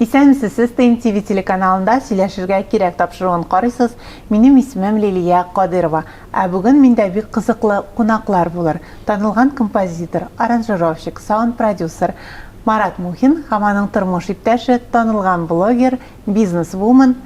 Исәнмесез, сез ТМ ТВ телеканалында сөйләшергә кирәк тапшыруын карыйсыз. Минем исемем Лилия Кадыйрова. Ә бүген миндә бик кызыклы кунаклар булыр. Танылган композитор, аранжировщик, саунд-продюсер Марат Мухин һәм аның тормыш иптәше, танылган блогер, бизнес-вумен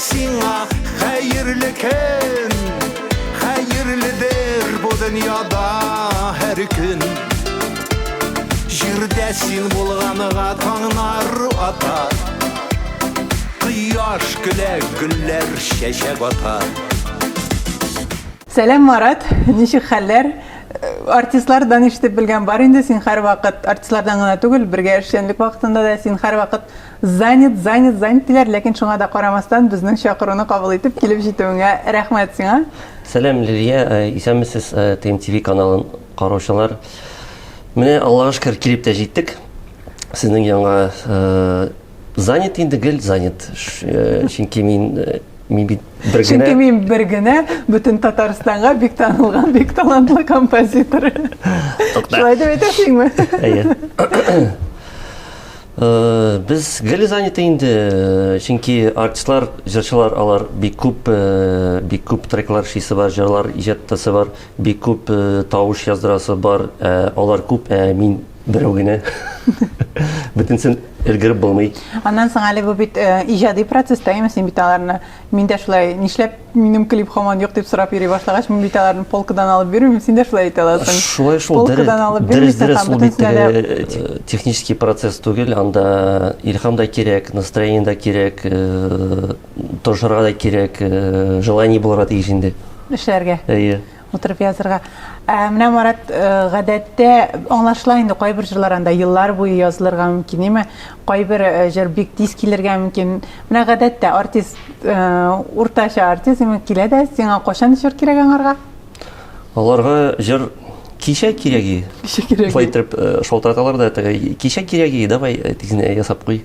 Сиңа хәерле көн, хәерледер бу дөньяда һәр көн. Җирдә син булганыга таңнар ата, кояш көлә, гөлләр чәчәк ата. Сәлам, Марат, ничек хәлләр? артистлардан ишетеп белгән бар инде син һәрвакыт артистлардан гына түгел бергә эшчәнлек вакытында да син һәрвакыт Занят, занят, занят диләр, ләкин шуңа да карамастан, безнең чакыруны кабул итеп килеп җитүеңә рәхмәт сиңа. Сәлам Лилия, исәнмесез ТМТВ каналын караучылар. Менә Аллага шөкер килеп тә җиттек. Сезнең янга занят инде гел занят. Чөнки мин мин бит бер генә. Чөнки мин бер генә бөтен Татарстанга бик танылган, бик талантлы композитор. Шулай дип әйтәсеңме? Әйе. Э, без гел заняты инде э, чөнки артистлар җырчылар алар бик күп э, бик күп треклар шисе бар җырлар иҗаттасы бар бик күп тавыш яздырасы бар ә алар күп ә мин берәү генә бөтенсен өлгереп булмый аннан соң әле бу бит иҗади процесста имеш син бит аларны мин дә шулай нишләп Минем клип хаман юк дип сорап йөри башлагач, мин бит аларны полкадан алып бирмим, син дә шулай әйтә аласың. Шулай шул. Полкадан алып бирмисең һәм бөтенсенә дә э, технический процесс түгел, анда илхам да кирәк, настроение да кирәк, э, торышырга да кирәк, э, желание булырга тиеш инде. Эшләргә. Әйе. Утырып язырга. Ә менә Марат, э, гадәттә аңлашыла инде кайбер җырлар анда еллар буе язылырга мөмкин, әйме? Кайбер э, җыр бик тиз килергә мөмкин. Менә гадәттә артист, э, уртача артист имин килә дә, сиңа кайчан җыр кирәк аңарга? Аларга җыр кичә кирәге. Кичә кирәге. Шулай итеп э, шалтыраталар да тәгәй. Кичә кирәге, давай э, тизенә ясап куй.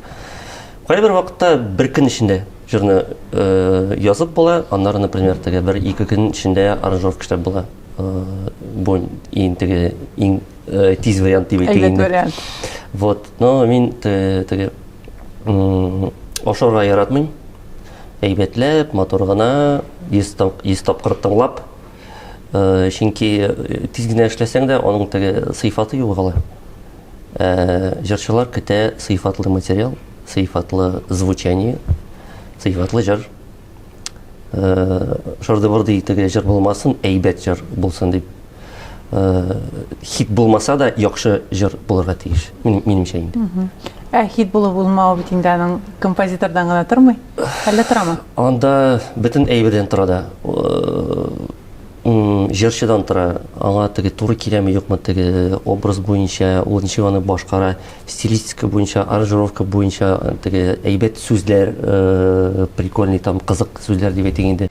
Кайбер вакытта бер көн эчендә Җырны язып була, аннары, например, теге бер ике көн эчендә аранжировка эшләп була. Бу иң теге иң тиз вариант дип әйтә инде. вариант. Вот, но мин теге ашарга яратмыйм. Әйбәтләп, матур гына, 100 тап 100 тапкыр тыңлап, чөнки тиз генә эшләсәң дә, аның теге сыйфаты югала. җырчылар көтә сыйфатлы материал, сыйфатлы звучание, сыйфатлы җыр. Шырды-бырды итеге җыр булмасын, әйбәт җыр булсын дип. Хит булмаса да, яхшы җыр булырга тиеш, минемчә инде. Ә хит булып булмау бит инде аның композитордан гына тормый. Әллә торамы? Анда бөтен әйбердән тора да. Җырчыдан тора, аңа теге туры киләме, юкмы, теге образ буенча, ул ничек аны башкара, стилистика буенча, аранжировка буенча, теге әйбәт сүзләр, прикольный там, кызык сүзләр дип әйтик инде.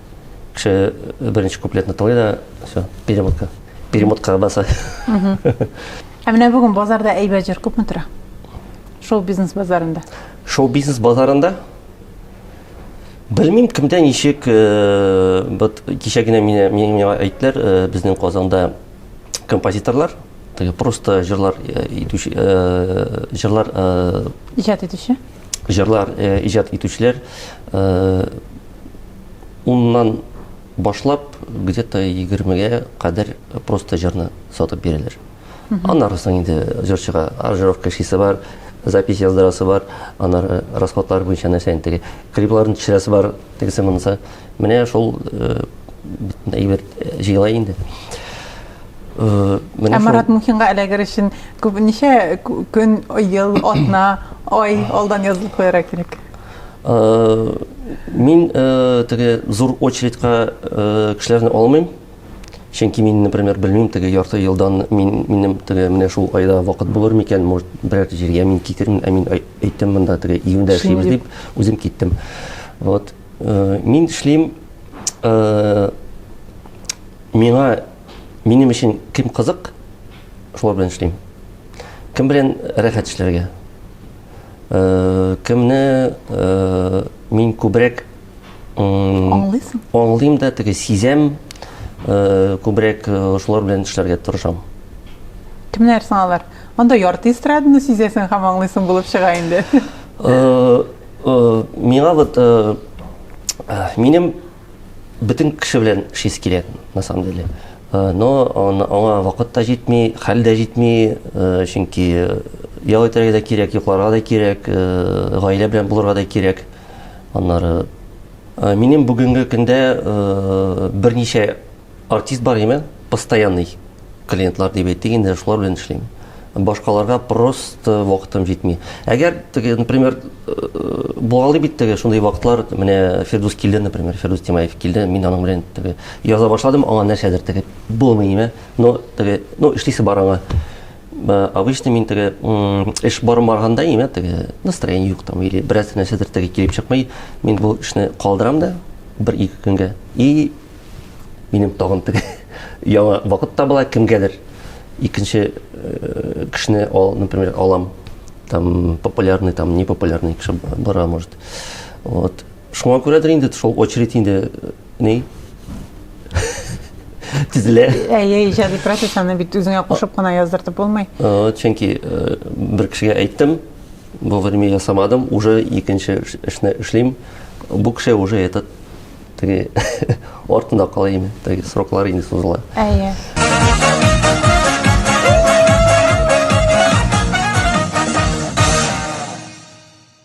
кеше беренче куплетны тыңлый да все перемотка перемоткага баса ә менә бүген базарда әйбәт җыр күпме тора шоу бизнес базарында шоу бизнес базарында белмим кемдә ничек вот кичә генә миңа миңа әйттеләр безнең казанда композиторлар просто жырлар итүче жырлар иҗат итүче җырлар э, иҗат итүчеләр э, уннан башлап где то егермегә кадәр просто җырны сатып бирәләр аннары соң инде җырчыга аранжировка эшлисе бар запись яздырасы бар аннары расходлар буенча нәрсә инде теге клипларын төшерәсе бар тегесе монысы. Менә шул әйбер җыела инде. Ә Марат Мухинга эләгер өчен күп ничә көн, ел, атна, ай алдан язылып куярга кирәк? Мин теге зур очередька кешеләрне алмыйм. Чөнки мин, например, белмим, теге ярты елдан мин минем теге менә шул айда вакыт булыр микән, может, берәр җиргә мин китермен, ә мин әйттем монда теге июньдә эшлибез дип, үзем киттем. Вот. Э, мин эшлим э, миңа минем өчен кем кызык, шулар белән эшлим. Кем белән рәхәт эшләргә? Э, кемне мин күбрәк Аңлыйсың? Аңлыйм да, теге сизәм, э, күбрәк э, шулар белән эшләргә тырышам. Кемнәр соң алар? Анда ярты эстраданы сизәсең һәм аңлыйсың булып чыга инде. Э, э, Миңа вот э, э, минем бөтен кеше белән эшлисе килә, на самом деле. Э, Но ан- аңа вакыт та җитми, хәл дә җитми, э, чөнки э, ял итәргә дә кирәк, йокларга да кирәк, э, гаилә белән булырга да кирәк. Аннары э, минем бүгенге көндә э, берничә артист бар имә, постоянный клиентлар дип әйтик инде, шулар белән эшлим. Башкаларга просто вакытым җитми. Әгәр теге, например, э, булгалы бит теге шундый вакытлар, менә Фирдус килде, например, Фирдус Тимаев килде, мин аның белән теге яза башладым, аңа нәрсәдер теге булмый имә, но теге, ну, эшлисе бар аңа. Э, обычно мин теге эш барып барганда имә теге настроение юк там или бераз нәрсәдер теге килеп чыкмый мин бу эшне калдырам да бер ике көнгә и минем тагын теге яңа вакыт табыла кемгәдер икенче э, кешене ал например алам там популярный там не популярный кеше бара может вот шуңа күрәдер инде шул очередь инде Ни? Тизле. Әйе, иҗади профессияне бит үзеңә кушып кына яздыртып булмый. Э, чөнки э, бер кешегә әйттем, бу время ясамадым, уже икенче эшне эшлим. Бу кеше уже этот теге артында кала инде, теге сроклар инде сузыла. Әйе.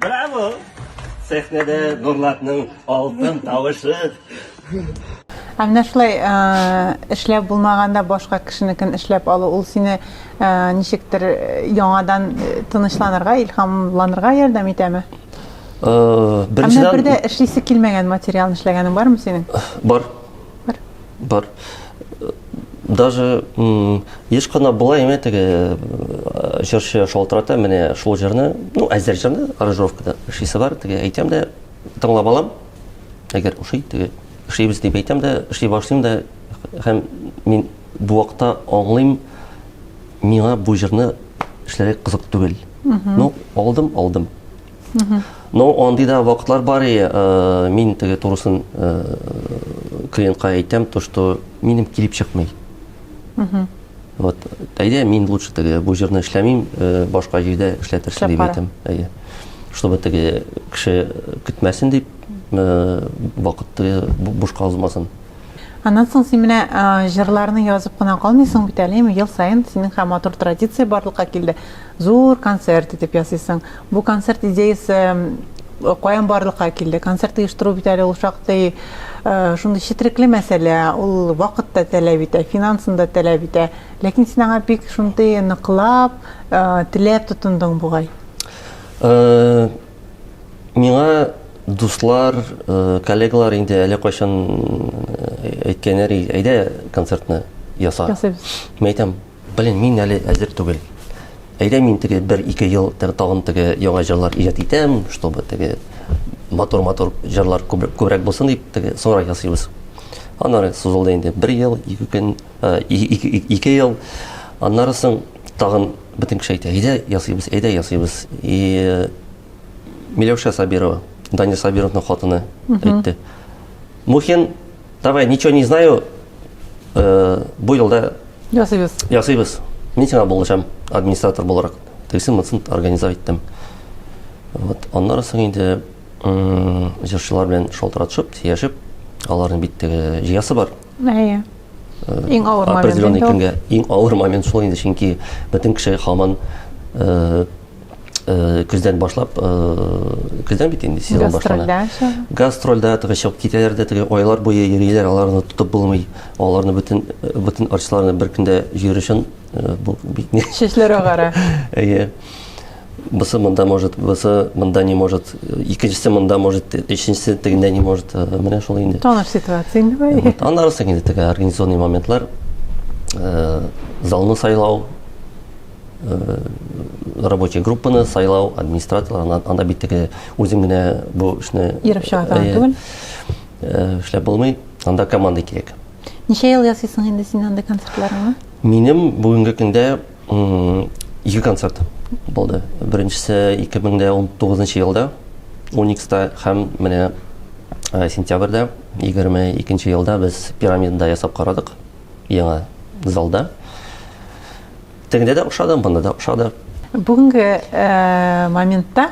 Браво! Сәхнәдә Нурлатның алтын тавышы. Ә менә шулай эшләп булмаганда башка кешенекен эшләп алу, ул сине ничектер яңадан тынычланырга, илһамланырга ярдәм итәме? Беренчедән, бер дә эшлисе килмәгән материалны эшләгәнең бармы синең? Бар. Бар. Бар. Даже еш кына була име теге җырчы шалтырата менә шул җырны, ну әзер җырны, аранжировкада эшлисе бар, теге әйтәм дә тыңлап алам. Әгәр ошый теге эшлибез дип әйтәм дә, эшли башлыйм да һәм мин бу вакытта аңлыйм, миңа бу җырны эшләргә кызык түгел. Ну, алдым, алдым. Ну, андый да вакытлар бар и э, мин теге турысын э, клиентка әйтәм, то что минем килеп чыкмый. Вот, әйдә мин лучше теге бу җырны эшләмим, э, башка җирдә эшләтерсең дип әйтәм. Әйе. Чтобы теге кеше көтмәсен дип, э, вакыт теге бушка узмасын. Аннан соң син менә э, җырларны язып кына калмыйсың бит әле, ел саен синең һәм матур традиция барлыкка килде. Зур концерт итеп ясыйсың. Бу концерт идеясе каян барлыкка килде? Концерт оештыру бит әле ул шактый шундый четрекле мәсьәлә, ул вакыт та таләп итә, финансын да таләп итә. Ләкин син аңа бик шундый ныклап, теләп тотындың бугай. Миңа дуслар, коллегалар инде әле кайчан әйткәннәр, әйдә концертны яса. Ясыйбыз. Мин әйтәм, Блин, мин әле әзер түгел. Әйдә мин теге бер ике ел тагын теге яңа җырлар иҗат итәм, чтобы теге матур-матур җырлар күбрәк булсын дип теге сора ясыйбыз. Аннары сузылды инде бер ел, ике көн, э, ике ел. Аннары соң тагын бөтен кеше әйтә, әйдә ясыйбыз, әйдә ясыйбыз. И Миләүшә Сабирова, Даня Сабировның хатыны әйтте. Мухин Давай, ничего не знаю, э, бу елда ясыйбыз. Ясыйбыз. Мин сиңа булышам администратор буларак. Тегесен мынсын организовать иттем. Вот, аннары соң инде җырчылар белән шалтыратышып, сөйләшеп, аларның бит теге җыясы бар. Әйе. Э, иң авыр момент. Определенный көнгә иң авыр момент шул инде, чөнки бөтен кеше хаман э, көздән башлап көздән бит инде сезон башлана гастрольдә теге чыгып китәләр дә теге айлар буе йөриләр аларны тотып булмый аларны бөтен бөтен арчыларны бер көндә җыер өчен бу бик не чәчләр агара әйе бысы монда может бысы монда не может икенчесе монда может өченчесе тегендә не может менә шул инде таныш ситуация инде бай аннары соң инде теге организационный моментлар залны сайлау рабочий группаны сайлау администраторлар анда бит теге үзең генә бу эшне йөреп чыга торган түгел эшләп булмый анда команда кирәк ничә ел ясыйсың инде син анда концертларыңны минем бүгенге көндә ике концерт булды беренчесе 2019 елда уникста һәм менә сентябрьдә егерме икенче елда без пирамидада ясап карадык яңа залда. Тегендә дә ошады, монда да ошады. Бүгенге э, моментта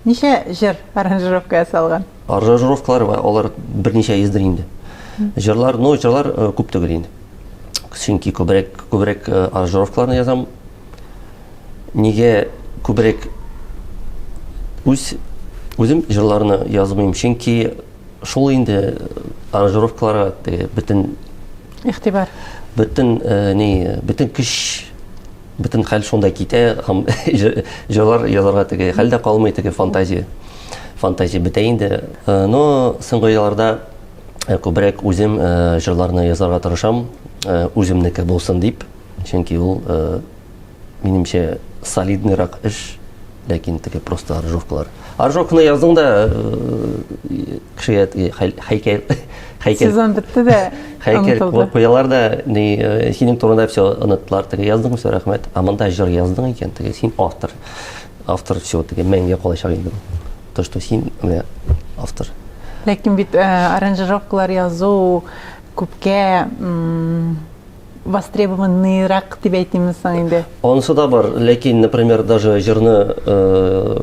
ничә җыр аранжировка ясалган? Аранжировкалар бар, алар берничә йөздер инде. Җырлар, ну, җырлар э, күп түгел инде. Чөнки күбрәк күбрәк э, аранжировкаларны язам. Нигә күбрәк үз үзем җырларны язмыйм, чөнки шул инде аранжировкаларга теге бөтен игътибар бөтен э, ни бөтен көч бөтен хәл шунда китә һәм җырлар язарга теге хәл дә калмый теге фантазия фантазия бетә инде э, но соңгы елларда э, күбрәк үзем җырларны язарга тырышам үземнеке булсын дип чөнки ул минемчә, солидныйрак эш, ләкин теге просто аржовкалар. Аржовканы яздың да э, кешегә хәйкәл хәйкәл сезон бетте дә хәйкәл куялар да ни э, синең турында все оныттылар теге яздың все рәхмәт а монда җыр яздың икән теге син автор автор все теге мәңгегә калачак инде то что син менә автор ләкин бит э, аранжировкалар язу күпкә востребованныйрак дип әйтимме соң инде? Анысы да бар, ләкин, например, даже җырны э,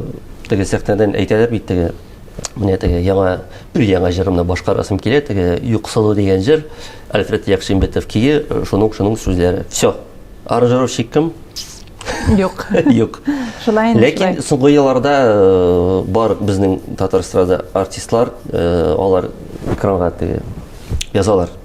теге сәхнәдән әйтәләр бит теге менә теге яңа өр яңа җырымны башкарасым килә теге юксылу дигән җыр альфред якшимбетов кие э, шуның шуның сүзләре все аранжировщик кем юк юк шулай инде ләкин соңгы елларда э, бар безнең татар эстрада артистлар э, алар экранга теге язалар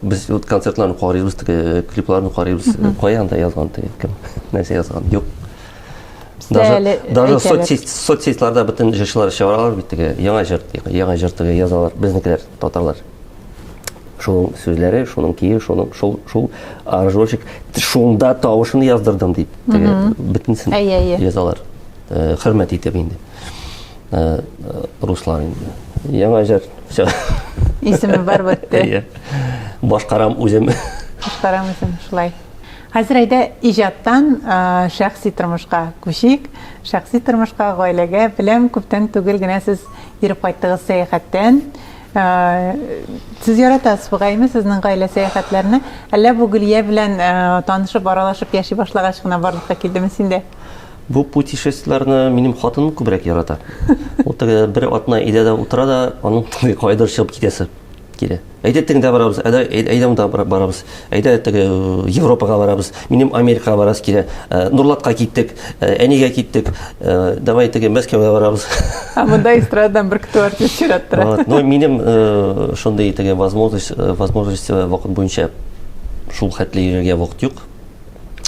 Без вот концертларны карыйбыз, теге клипларны карыйбыз. Кая анда язган теге кем? Нәрсә язган? Юк. Даже даже соцсеть соцсетьларда бөтен җырчылар чыгаралар бит теге яңа җыр, яңа җыр теге язалар. Безнекеләр татарлар. Шуның сүзләре, шуның кие, шуның шул шул аржочек шунда тавышын яздырдым дип теге бөтенсен язалар. Хөрмәт итеп инде. э, э, руслар инде яңа җыр все исеме бар бетте иә башкарам үзем башкарам үзем шулай хәзер әйдә иҗаттан э, шәхси тормышка күчик шәхси тормышка гаиләгә беләм күптән түгел генә сез йөреп кайттыгыз сәяхәттән сез яратасыз бугаймы сезнең гаилә сәяхәтләрне әллә бу гөлия белән танышып аралашып яши башлагач кына барлыкка килдеме синдә Бу путешествиеләрне минем хатыным күбрәк ярата. Ул теге бер атна өйдә дә утыра да, аның теге кайдыр чыгып китәсе килә. Әйдә теңдә барабыз, әйдә әйдә монда барабыз. Әйдә теге э, Европага барабыз. Минем Америкага барасы килә. Э, Нурлатка киттек, э, әнигә киттек. Давай теге Мәскәүгә барабыз. А монда эстрададан бер кто артист чираттыра. Вот, но минем шундый теге возможность, возможность вакыт буенча шул хәтле йөрергә вакыт юк.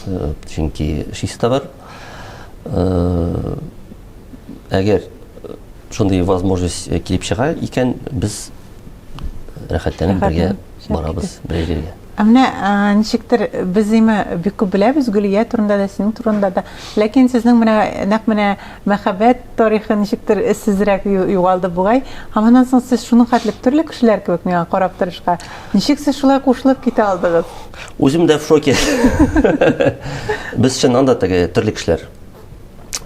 Э, чөнки чиста бар э, әгәр шундый возможность э, килеп чыга икән без рәхәтләнеп бергә барабыз бергә Ә менә ничектер без име бик күп беләбез Гөлия турында да, синең турында да. Ләкин сезнең менә нәкъ менә мәхәббәт тарихы ничектер эзсезрәк югалды бугай. Һәм аннан соң сез шуның хәтле төрле кешеләр кебек миңа карап торышка. Ничек сез шулай кушылып китә алдыгыз? Үзем дә в шоке. Без чыннан да теге төрле кешеләр.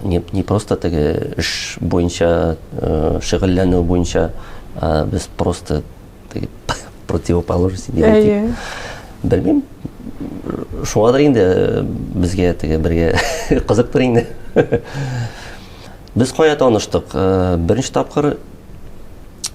Не, не просто теге эш буенча, э, шөгыльләнү буенча, а без просто теге противоположность дип әйтик. Белмим. Шуңадыр инде э, безгә теге бергә кызыктыр инде. Без кая таныштык? Э, беренче тапкыр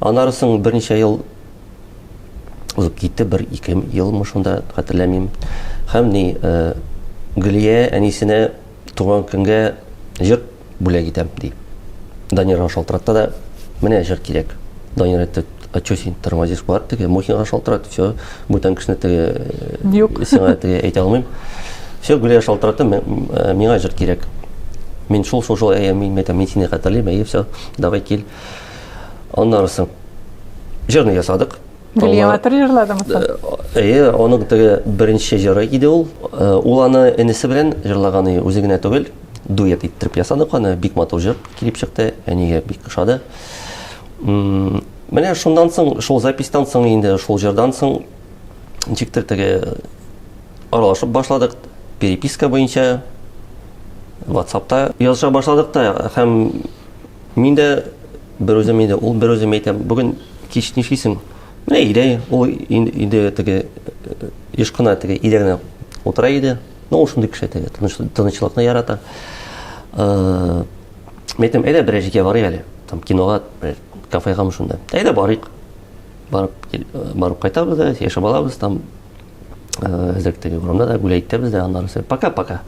Аннары соң берничә ел узып китте, бер ике елмы шунда хәтерләмим. Һәм ни э, Гөлия әнисенә туган көнгә җыр бүләк итәм ди. Данирга шалтыратты да, менә җыр кирәк. Данир әйтте, а что син тормозишь бар теге Мухинга шалтырат, все, бүтән кешене теге э, Юк. сиңа теге әйтә алмыйм. Все, Гүлия шалтыраты, э, миңа җыр кирәк. Мин шул шул шул әйе, мин әйтәм, мин сине хәтерлим, әйе, все, давай кил. Аннары соң җырны ясадык. Гөлияватыр җырладыңыз? Э, әйе, оның теге беренче җыры иде ул. Э, ул аны энесе белән җырлаган иде, үзе генә түгел. Дуэт иттереп ясадык аны, бик матур җыр килеп чыкты, әнигә бик ошады. Менә шундан соң, шул запистан соң инде, шул җырдан соң ничектер теге аралашып башладык, переписка буенча WhatsApp-та языша башладык та һәм Мин дә берүзем инде, ул берүзем әйтәм, бүген кич нишлисең? Менә өйдә ул инде теге еш кына теге өйдә генә утыра иде. Ну, ул шундый кеше теге, тынычлыкны ярата. Мин әйтәм, әйдә берәр җиргә барыйк әле, там кинога, бер кафега шунда. Әйдә барыйк. Барып барып кайтабыз да, яшәп алабыз там. Әзрәктәге урамда да гүләй итәбез дә, аннары сәр пока-пока.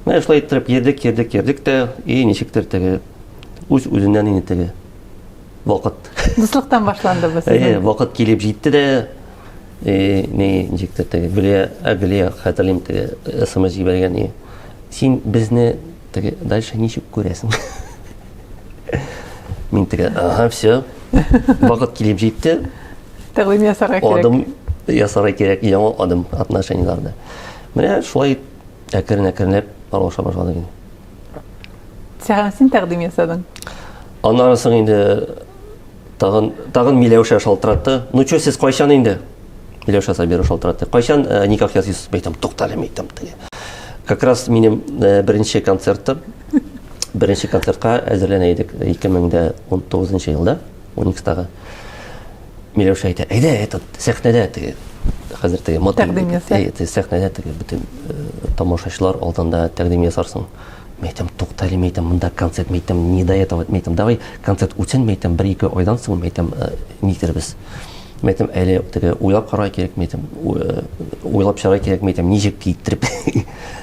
Менә шулай иттереп йөрдек, йөрдек, йөрдек тә, и ничектер теге үз-үзеннән инде теге вакыт. Дуслыктан башланды бу сезнең. Әйе, вакыт килеп җитте дә, и ни ничектер теге гүләй, ә гүләй хәтерлим теге смс җибәргән и. Син безне Теге, дальше ничек күрәсең? Мин теге, ага, все, вакыт килеп җитте. Тәкъдим ясарга кирәк. Адым ясарга кирәк, яңа адым отношениеләрдә. Менә шулай әкрен-әкренләп аралаша башладык инде. Сәгән син тәкъдим ясадың. Аннары соң инде Тагын, тагын Миләүшә шалтыратты. Ну чё, сез кайчан инде? Миләүшә Сабиров шалтыратты. Кайчан э, никах ясыйсыз? Мәйтәм, туктале, мәйтәм, теге. Как раз минем э, беренче концерттым. Беренче концертка әзерләнә идек 2019 елда, Уникстагы. Миләүшә әйтә, әйдә, этот, сәхнәдә теге, хәзер теге, мотык, Тәкъдим яса. Э, теге сәхнәдә теге, бөтен э, тамашачылар алдында тәкъдим ясарсың. Мин әйтәм, тукта әле, мин әйтәм, монда концерт, мин әйтәм, не до этого, мин әйтәм, давай концерт үтсен, мин әйтәм, бер-ике айдан соң, мин әйтәм, э, никтербез. Мин әйтәм, әле теге уйлап карарга кирәк, мин әйтәм, э, уйлап чыгарга кирәк, мин әйтәм, ничек китереп.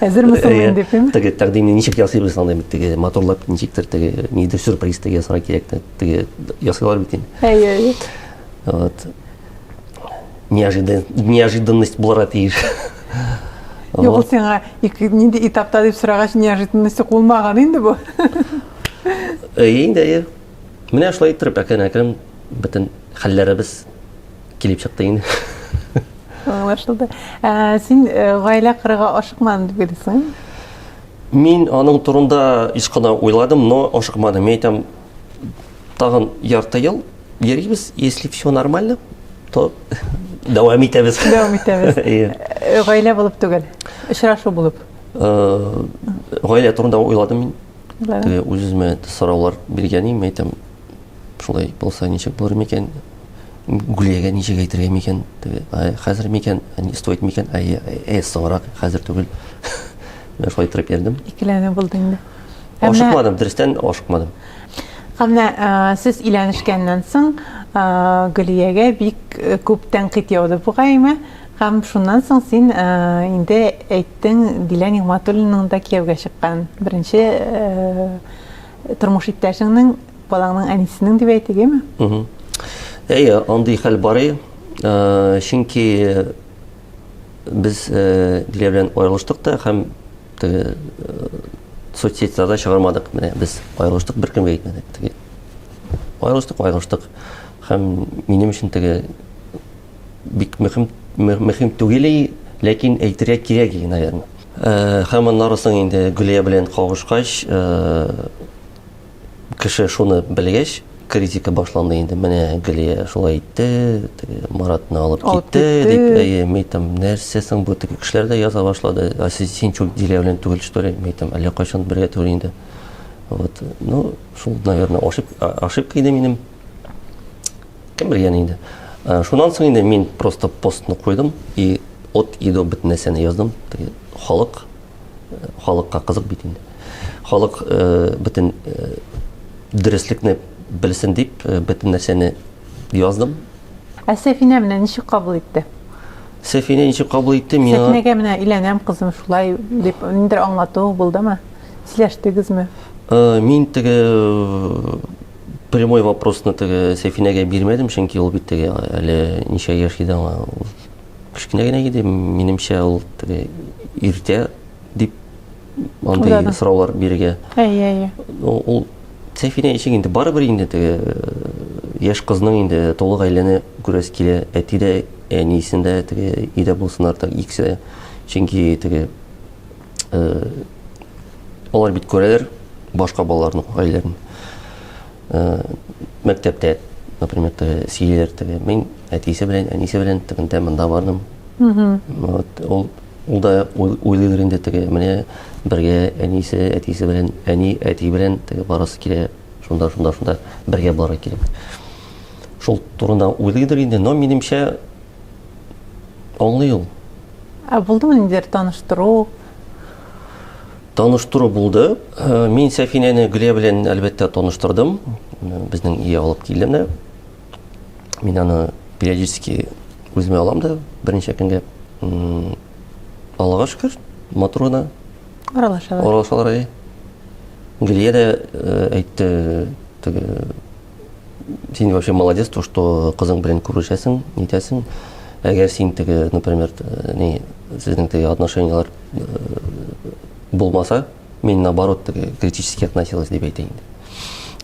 Әзерме соң инде, дим? Теге тәкъдимне ничек ясыйбыз, андый бит теге моторлап ничектер теге, нидер сюрприз теге ясарга кирәк, теге ясыйлар бит инде. Әйе, әйе. Вот. неожиданность булырга тиеш Юк, ул сиңа нинди этапта дип сорагач, неожиданность булмаган инде бу. Әйе, инде әйе. Менә шулай иттереп әкрен-әкрен бөтен хәлләребез килеп чыкты инде. Аңлашылды. Ә син э, гаилә кырыга ашыкмадың дип белсең? Мин аның турында еш кына уйладым, но ашыкмадым. Мин әйтәм, тагын ярты ел йөрибез, если все нормально, то дәвам итәбез. Дәвам итәбез. Э, гаилә булып түгел, очрашу булып. Э, гаилә турында уйладым мин. Теге үземә сораулар биргән идем, әйтәм, шулай булса ничек булыр микән? Гүлиягә ничек әйтергә микән? Теге, хәзер микән? Не стоит микән? Әй, әй, соңрак, хәзер түгел. Менә шулай торып йөрдем. Икеләнү булды инде. Ашыкмадым, дөрестән ашыкмадым. Әмма сез иләнешкәннән соң Гөлиягә бик күп тәнкыйть яуды бугаймы? Һәм шуннан соң син инде әйттең, Дилә Нигъмәтуллинның да кияүгә чыккан. Беренче тормыш иптәшеңнең, балаңның әнисенең дип әйтегеме? Әйе, андый хәл бар. Чөнки без Дилә белән аерылыштык та һәм Теге соцсетьларда чыгармадык, менә без аерылыштык, беркемгә әйтмәдек. Теге аерылыштык, аерылыштык. Һәм минем өчен теге бик мөһим мөһим түгел, ләкин әйтергә кирәк иде, наверное. Һәм аннары соң инде Гөлия белән кавышкач, Кеше шуны белгәч, критика башланды инде. Менә Гөлия шулай итте, теге Маратны алып китте, дип, әйе, мин там нәрсә соң бу теге кешеләр дә яза башлады. А син, син чүл дилә белән түгел, что ли? Мин там әллә кайчан бергә түгел инде. Вот. Ну, шул, наверное, ошибка, ошибка иде минем. Кем белгән инде. Э, шуннан соң инде мин просто постны куйдым и от и до бөтен нәрсәне яздым. Теге халык халыкка кызык бит инде. Халык э, бөтен э, дөреслекне белсен дип, э, бөтен нәрсәне яздым. Ә Сәфинә менә ничек кабул итте? Сәфинә ничек кабул итте? Мин Сәфинәгә менә иләнәм кызым шулай дип ниндер аңлату булдымы? Сөйләштегезме? Э, мин теге э, прямой вопросны теге Сәфинәгә бирмәдем, чөнки ул бит теге әле ничә яшь иде аңа. кечкенә генә иде минемчә ул теге иртә дип андый сораулар бирергә әйе әйе ул сәфинә ишек инде барыбер инде теге э, яшь кызның инде тулы гаиләне күрәсе килә әти дә әниесен дә теге өйдә булсыннар так икесе чөнки теге э, алар бит күрәләр башка балаларның гаиләләрен э, мәктәптә, например, теге сиер теге, мин әтисе белән, әнисе белән тегендә монда бардым. Вот, ул ул да уйлыйлар инде теге, менә бергә әнисе, әтисе белән, әни, әти белән теге барасы килә, шунда, шунда, шунда бергә бары килеп. Шул турында уйлыйдыр инде, но минемчә аңлый ул. Ә булдымы ниндидер таныштыру? Таныштыру булды. Мин Сәфинәне Гөлия белән әлбәттә таныштырдым. Безнең өйгә алып килде менә. Мин аны периодически үземә алам да берничә көнгә. Аллага шөкер, матур гына. Аралашалар. Аралашалар. Гөлия дә әйтте, теге Син вообще молодец, то, что кызың белән күрешәсең, нитәсең. Әгәр син теге, например, э, не, сезнең теге отношениялар э, булмаса, мин наоборот теге критически относилась дип әйтә инде.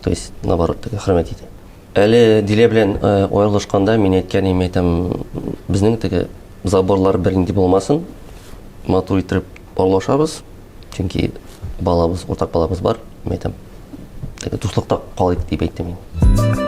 То есть, наоборот, теге хөрмәт итә. Әле Дилә белән э, аерылышканда мин әйткән идем, әйтәм, безнең теге заборлар бернинди булмасын, матур итеп Парлашабыз, чөнки балабыз, уртак балабыз бар, мин әйтәм, теге дуслыкта калыйк дип әйттем мин.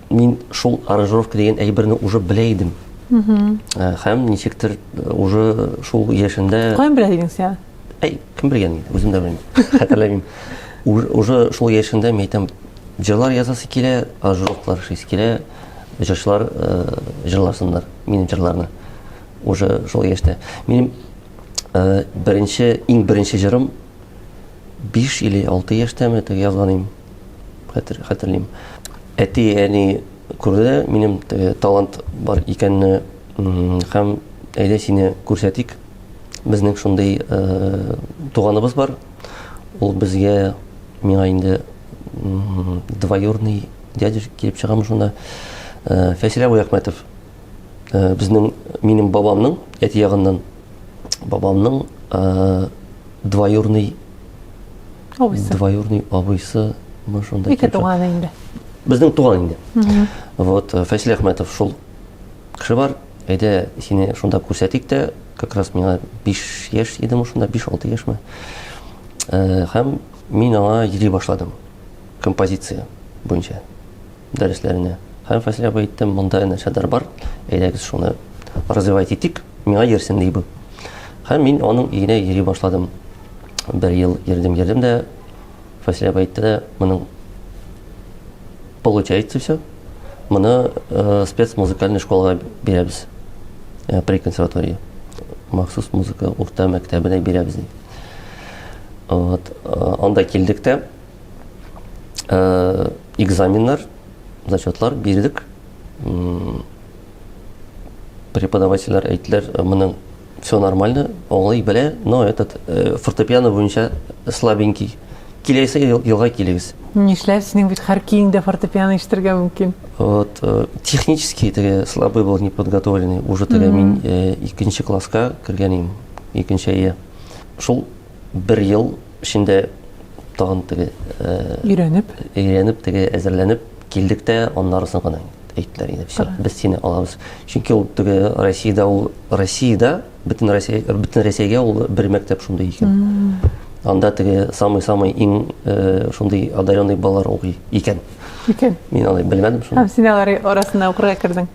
мин шул аранжировка дигән әйберне уже белә идем. Э, һәм ничектер э, уже шул яшендә Каян белә идең син? Әй, кем белгән инде, үзем дә белмим. Хәтерләмим. Уже шул яшендә мин әйтәм, җырлар язасы килә, аранжировкалар эшлисе килә, җырчылар э, җырласыннар минем җырларны. Уже шул яшьтә. Минем беренче, иң беренче җырым 5 или 6 яшьтәме, теге язган идем. хәтер, хәтерлим. Әти, әни күрде минем теге талант бар икәнне һәм әйдә сине күрсәтик. Безнең шундый э, туганыбыз бар. Ул безгә миңа инде двоюрный дядя килеп чыгамы шунда. Э, Фәсилә Бәяхмәтов. Э, безнең минем бабамның әти ягыннан бабамның ә, двоюрный абыйсы двоюрный абыйсы мы шунда ике туган инде безнең туган инде вот э, фәйсәл әхмәтов шул кеше бар әйдә сине шунда күрсәтик тә как раз миңа биш яшь идем шунда биш алты яшьме э, һәм мин аңа йөри башладым композиция буенча дәресләренә. Һәм Фасил абый әйтте, монда әнә шәдәр бар, әйдәгез шуны развивать итик, миңа йөрсен ди бу. Һәм мин аның өенә йөри башладым. Бер ел йөрдем, йөрдем дә Фасил абый әйтте дә, моның получается все, моны э, спецмузыкальный школага бирәбез э, при консерватории. Махсус музыка урта мәктәбенә бирәбез ди. Вот, э, анда килдек тә, э, экзаменнар, зачетлар бирдек. Преподавательләр әйтләр, э, моның все нормально, аңлый белә, но этот э, фортепиано буенча слабенький. Киләсе елга килегез. Нишләп синең бит һәр киңдә фортепиано ишетергә мөмкин? Вот, э, технически теге слабый был неподготовленный. Уже теге мин э, икенче класска кергән идем, икенче әйе. Шул Бер ел эчендә тагын теге өйрәнеп, өйрәнеп теге әзерләнеп килдек тә, аннары соң гына әйттеләр инде, все, без сине алабыз. Чөнки ул теге Россиядә ул Россиядә бөтен Россия бөтен Россиягә ул бер мәктәп шундый икән. Анда теге самый-самый иң э, шундый одаренный балалар укый икән. Икән. Мин аны белмәдем шуны. Һәм син алар арасында укырга кердең.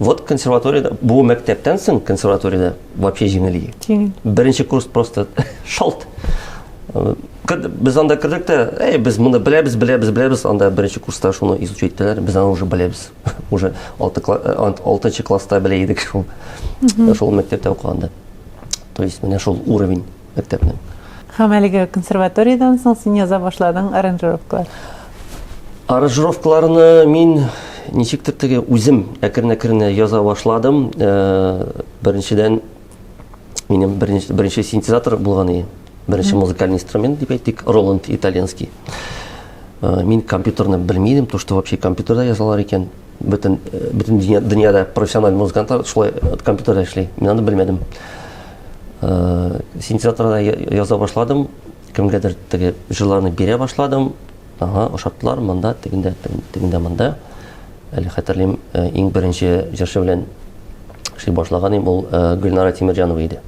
Вот консерваторияда, бу мәктәптән соң консерваторияда вообще җиңел иде. Җиңел. Беренче курс просто шалт. Без анда кердек тә, әй, без моны беләбез, беләбез, беләбез, анда беренче курста шуны изучать иттеләр, без аны уже беләбез. Уже 6 6 класста белә идек шул. Шул мәктәптә укыганда. То есть менә шул уровень. мәктәпнең. Һәм әлеге консерваториядән соң син яза башладың аранжировкалар. Аранжировкаларны мин ничектер теге үзем әкрен-әкрен яза башладым. Беренчедән минем беренче, беренче синтезатор булган иде. Беренче музыкальный инструмент дип әйтик, Роланд итальянский. Мин компьютерны белмидем, то что вообще компьютерда язалар икән. Бөтен, бөтен дөньяда профессиональ музыкантлар шулай компьютерда эшли. Мин аны белмәдем. Э, синтезаторда яза башладым, кемгәдер теге җырларны бирә башладым. Ага, ошаттылар монда, тегендә, тегендә монда. Әле хәтерлим, э, иң беренче җырчы белән эшли башлаган идем, ул э, Гөлнара Тимирҗанова иде.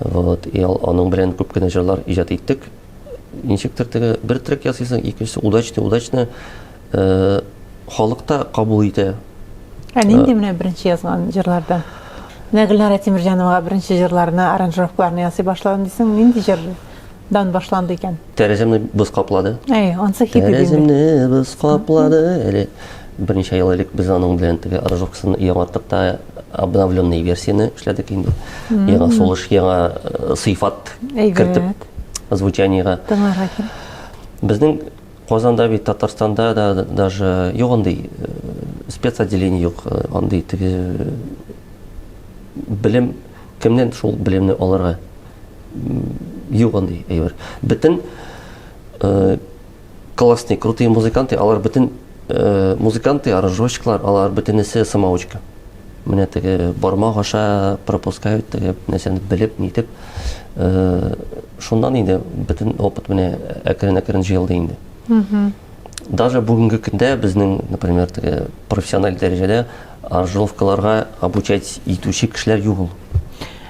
Вот, и аның белән күп кенә җырлар иҗат иттек. ничектер теге бер трек ясыйсың, икенчесе удачный, удачный э, халыкта кабул итә. Ә нинди менә беренче язган җырларда? Менә Гөлнара Тимирҗановага беренче җырларына аранжировкаларны ясый башладым дисең, нинди җырдан башланды икән? Тәрәзәмне боз каплады. Әй, ансы хит Тәрәзәмне боз каплады. Әле берничә ел элек без аның белән теге аранжировкасын яңарттык та обновленный версияне эшләдек инде. Яңа сулыш, яңа э, сыйфат кертеп звучаниега. Тыңларга кирәк. Безнең Казанда бит Татарстанда да даже юк андый э, спецотделение юк, э, андый теге белем кемнән шул белемне алырга юк андый әйбер. Бөтен Классный, крутые музыканты, алар бөтен э, музыканты, аранжировщиклар, алар бөтенесе самоучка. Менә теге бармак аша пропускают теге нәрсәне белеп, нитеп. Э, шуннан инде бөтен опыт менә әкрен-әкрен җыелды инде. Угу. Даже бүгенге көндә безнең, например, теге профессиональ дәрәҗәдә аранжировкаларга обучать итүче кешеләр юк ул.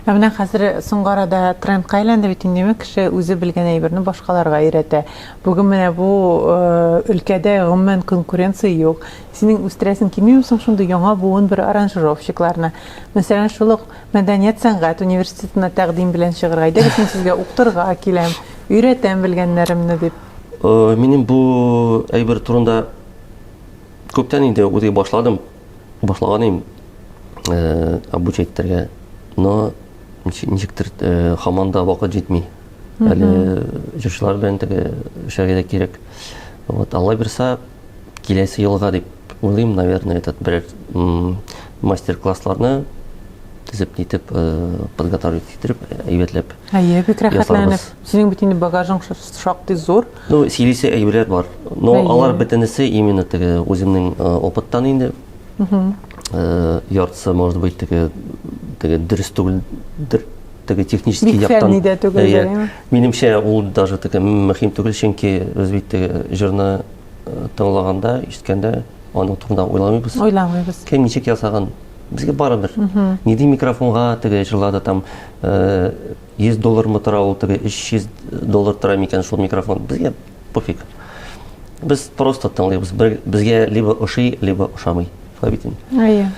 Ә менә хәзер соңгы арада трендка әйләнде бит инде, димәк, кеше үзе белгән әйберне башкаларга өйрәтә. Бүген менә бу өлкәдә, гомумән, конкуренция юк. Синең үстерәсең килмиме соң шундый яңа буын бер аранжировщикларны? Мәсәлән, шул ук мәдәният-сәнгать университетына тәкъдим белән чыгырга, әйдәгез, мин сезгә укытырга киләм, өйрәтәм белгәннәремне, дип. Минем бу әйбер турында күптән инде уйлый башладым. Башлаган идем э, обучать итәргә, но ничектер э, хаман да вакыт җитми. Әле җырчылар белән теге эшләргә дә кирәк. Вот, Алла бирса, киләсе елга дип уйлыйм, наверное, этот берәр мастер-классларны тезеп нитеп э, подготовить итеп әйбәтләп әйе бик рәхәтләнеп синең бит инде багажың шактый зур Ну, сөйлисе әйберләр бар. Но Әйе. алар бөтенесе именно теге үземнең э, опыттан инде. Э, яртысы, может быть, теге теге дөрес түгелдер. Теге технический Бик яктан. фәнни дә түгел, Әйе. әйе. Минемчә, ул даже теге мөһим түгел, чөнки без бит теге җырны э, тыңлаганда, ишеткәндә, аның турында уйламыйбыз. Уйламыйбыз. Кем ничек ясаган? Безгә барыбер. Нинди микрофонга теге җырлады там э, 100 доллармы тора ул теге 300 доллар тора микән шул микрофон безгә пофиг без просто тыңлыйбыз безгә либо ошый либо ошамый шулай бит инде әйе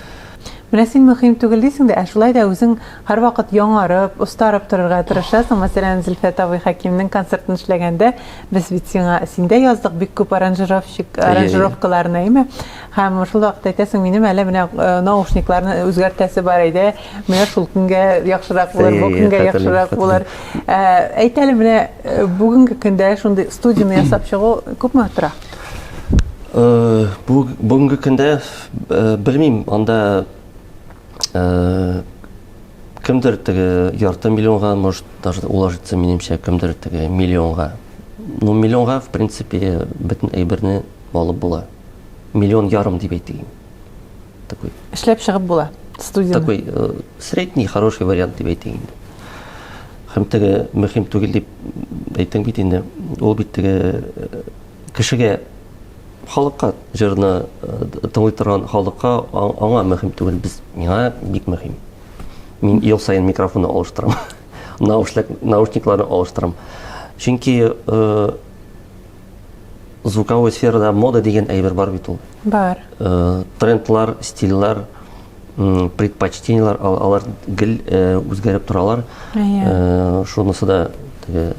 менә син мөһим түгел дисең дә ә шулай да үзең һәрвакыт яңарып остарып торырга тырышасың мәсәлән зөлфәт абый хәкимнең концертын эшләгәндә без бит сиңа синдә яздык бик күп аранжировщик аранжировкаларны әйеме Һәм шул вакытта әйтәсең, минем әле менә наушникларны үзгәртәсе бар иде, менә шул көнгә яхшырак булыр, бу көнгә яхшырак булыр. Әйт әле, менә бүгенге көндә шундый студияне ясап чыгу күпме тора? Бүгенге көндә белмим, анда кемдер теге ярты миллионга, может, даже уложится, минемчә, кемдер теге миллионга. Ну, миллионга, в принципе, бөтен әйберне алып була. миллион ярым дип әйтегез. Такой. Эшләп чыгып була студия. Такой э, средний хороший вариант дип әйтегез. Хәм теге мөһим түгел дип әйтәм бит инде. Ул бит теге э, кешегә халыкка җырны э, тыңлый торган халыкка аңа мөһим түгел без миңа бик мөһим. Мин ел сайын микрофонны алыштырам. Наушник наушникларны алыштырам. Чөнки э, Звуковой сферада мода дигән әйбер бар бит ул. Бар. Э, трендлар, стильлар, предпочтениялар, алар гел э, үзгәреп торалар. Э, шунысы да теге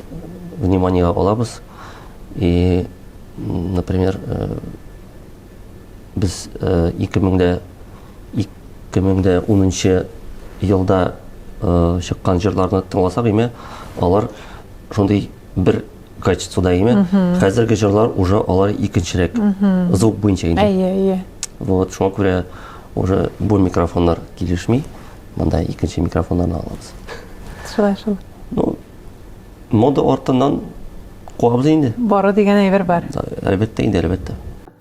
внимание алабыз. И, например, без 2000-дә 2010 елда чыккан җырларны тыңласак, име, алар шундый бер качествода име хәзерге җырлар уже алар икенчерәк звук буенча инде әйе әйе вот шуңа күрә уже бу микрофоннар килешми монда икенче микрофоннарны алабыз шулай шул ну мода артыннан куабыз инде бары дигән әйбер бар әлбәттә инде әлбәттә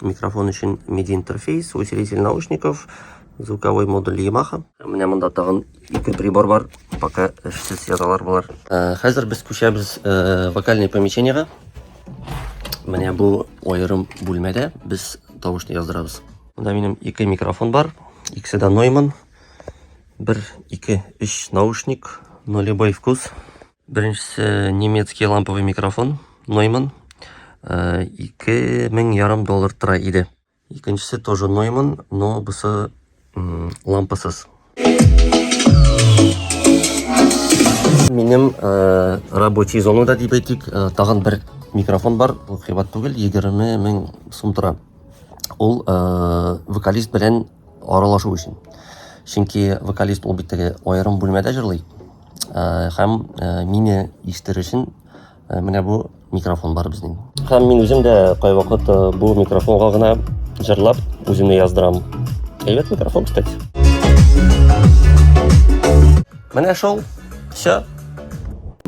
Микрофон өчен MIDI интерфейс, усилитель наушников, звуковой модуль Yamaha. Менә монда тагын ике прибор бар, пока эшсез яталар болар. Э, хәзер без күчәбез э, вокальный помещениега. Менә бу аерым бүлмәдә без тавышны яздырабыз. Монда минем ике микрофон бар, икесе дә Neumann. 1, 2, 3 наушник, нулевой вкус. Беренчесе немецкий ламповый микрофон, Нойман. Э, ике мең ярым доллар тора иде. Икенчесе тоже Нойман, но бусы лампасыз. Минем э, рабочий зонада дип әйтик, э, тагын бер микрофон бар, ул кыйбат түгел, 20 мең сум тора. Ул вокалист белән аралашу өчен. Чөнки вокалист ул бит теге аерым бүлмәдә җырлый. Э, һәм э, мине ишетер өчен э, менә бу микрофон бар безнең. Һәм мин үзем дә кайвакыт бу микрофонга гына җырлап үземне яздырам. Әйбәт микрофон, кстати. Менә шул, все.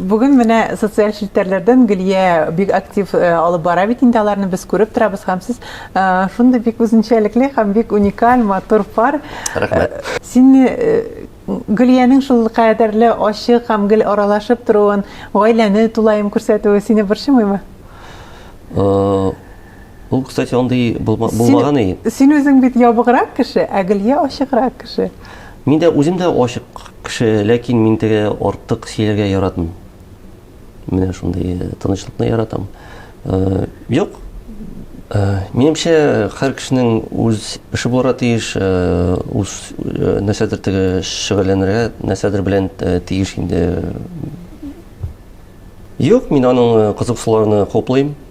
Бүген менә социаль челтәрләрдән Гөлия бик актив э, алып бара бит инде аларны без күреп торабыз һәм сез э, шундый бик үзенчәлекле һәм бик уникаль матур пар. Рәхмәт. Э, сине Гөлиянең шул кадәрле ачык һәм гел аралашып торуын, гаиләне тулаем күрсәтүе сине борчымыймы? Ул, кстати, андый булмаган и. Син үзең бит ябыграк кеше, ә Гөлия ачыграк кеше. Мин дә үзем дә ачык кеше, ләкин мин теге артык сөйләргә яратмыйм. Менә шундый э, тынычлыкны яратам. Э, юк. Э, минемчә, һәр кешенең үз эше булырга тиеш, үз нәрсәдер теге шөгыльләнергә, нәрсәдер белән тиеш инде. Юк, мин аның кызыксуларны хуплыйм.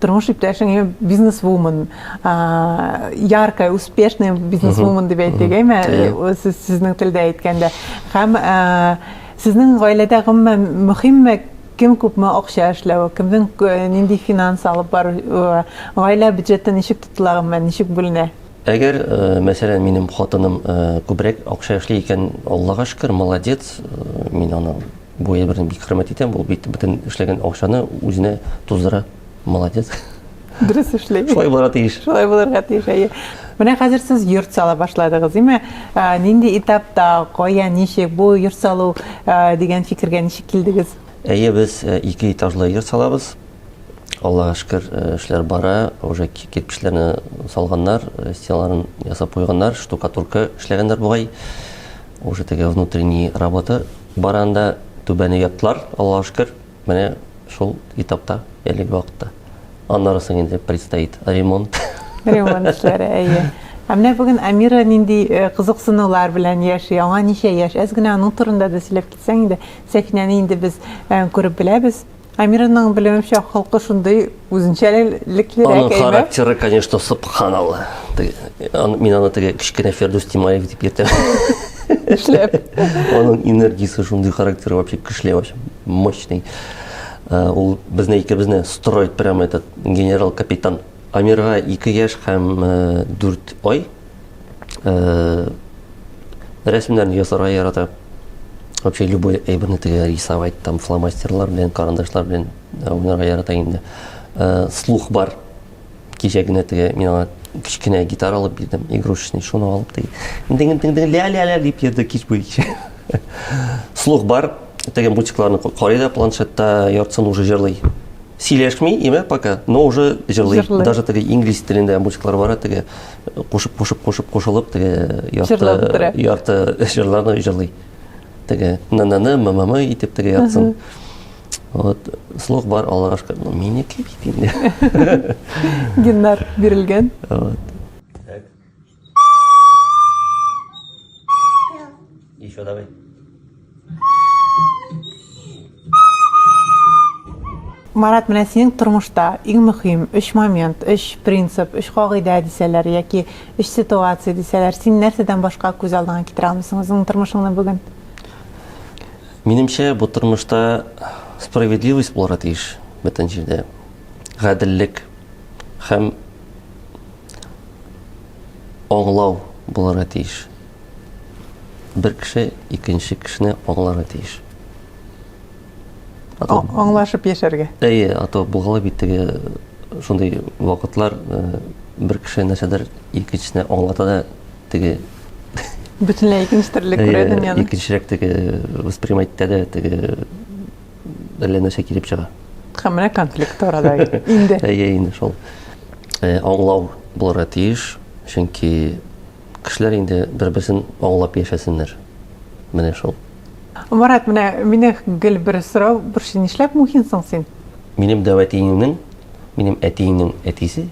тормыш иптәшең бизнесвумен яркая успешная бизнесвумен дип әйтик әйме сез сезнең телдә әйткәндә һәм сезнең гаиләдә гомумән мөһимме кем күпме акча эшләве кемнең нинди финанс алып бару гаилә бюджеты ничек тотыла гомумән ничек бүленә Әгәр, э, мәсәлән, минем хатыным э, күбрәк акча эшли икән, Аллага шөкер, молодец, э, мин аны Бу я бердән бик хөрмәт итәм, ул бит бөтен эшләгән акчаны үзенә туздыра. Молодец. Дөрес эшли. Шулай булырга тиеш. Шулай булырга тиеш, әйе. Менә хәзер сез йорт сала башладыгыз, димме? Нинди этапта, кая, ничек бу йорт салу дигән фикергә ничек килдегез? Әйе, без ике этажлы йорт салабыз. Аллага шөкер, эшләр бара, уже кирпечләрне салганнар, стеналарын ясап куйганнар, штукатурка эшләгәннәр бугай. Уже теге внутренний работа Баран да түбәне яптылар, Аллага шөкер, менә шул этапта, әлеге вакытта. Аннары соң инде предстоит ремонт. Ремонт эшләре, әйе. Ә менә бүген Амира нинди э, кызыксынулар белән яши? Аңа ничә яшь? Әз генә аның турында да сөйләп китсәң иде. Сәфинәне инде без э, күреп беләбез. Амираның белемемчә холкы шундый үзенчәлеклерәк Аның әйбәт. характеры, конечно, субханалла. Мин аны теге кечкенә Фердүс Тимаев дип йөртәм. Эшләп. Аның энергиясе шундый характеры вообще көчле, вообще мощный. Э, ул безне икебезне строит прямо этот генерал-капитан. Амирга 2 яшь һәм 4 э, ай. э, рәсемнәрне ясарга ярата вообще любой әйберне тегә рисовать там фломастерлар белән карандашлар белән э, уйнарга ярата инде э, слух бар кичә генә тегә мин аңа кечкенә гитара алып бирдем игрушечный шуны алып теге дин дин дин ля ля ля дип йөрде кич буе слух бар теге мультикларны карый да планшетта яртысын уже җырлый Сөйләшми имә пока, но уже җырлый. Даже теге инглиз телендә музыклар бара, теге кушып, кушып, кушып, кушылып, теге ярты, ярты җырларны җырлый. Теге на-на-на, ма-ма-ма итеп теге яртысын. Вот, слух бар, Аллага шөкер. Ну, минеке бит инде. Геннар бирелгән. Вот. Еще давай. Марат, менә синең тормышта иң мөһим өч момент, өч принцип, өч кагыйдә дисәләр яки өч ситуация дисәләр, син нәрсәдән башка күз алдыңа китерә алмыйсың үзеңнең тормышыңны бүген? Минемчә, бу тормышта справедливость булырга тиеш бөтен җирдә. Гаделлек һәм аңлау булырга тиеш. Бер кеше икенче кешене аңларга тиеш. А, аңлашып яшәргә. Әйе, а то булгала бит теге э, шундый вакытлар э, бер кеше нәрсәдер икенчесенә аңлата да теге бөтенләй икенче төрле күрә дөньяны. Икенчерәк теге воспринимать итә дә теге әллә нәрсә килеп чыга. Һәм менә конфликт арада инде. Әйе, инде шул. Э, аңлау булырга тиеш, чөнки кешеләр инде бер-берсен аңлап яшәсеннәр. Менә шул. Марат, менә мине гел бер сорау борчый, нишләп мухинсың син? Минем дәвәтиеңнең, минем әтиеңнең әтисе,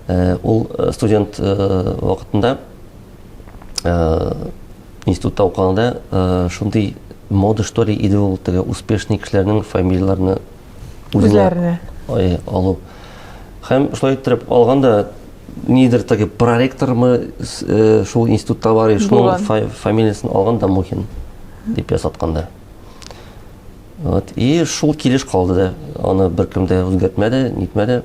э, ул э, студент вакытында э, институтта укыганда э, шундый мода что ли иде ул теге успешный кешеләрнең фамилияләрне үзләренә э, алу һәм шулай иттереп алганда нидер теге проректормы э, шул институтта бар шуның фамилиясын алган да мухин дип ясатканда вот и шул килеш калды да аны беркем дә үзгәртмәде нитмәде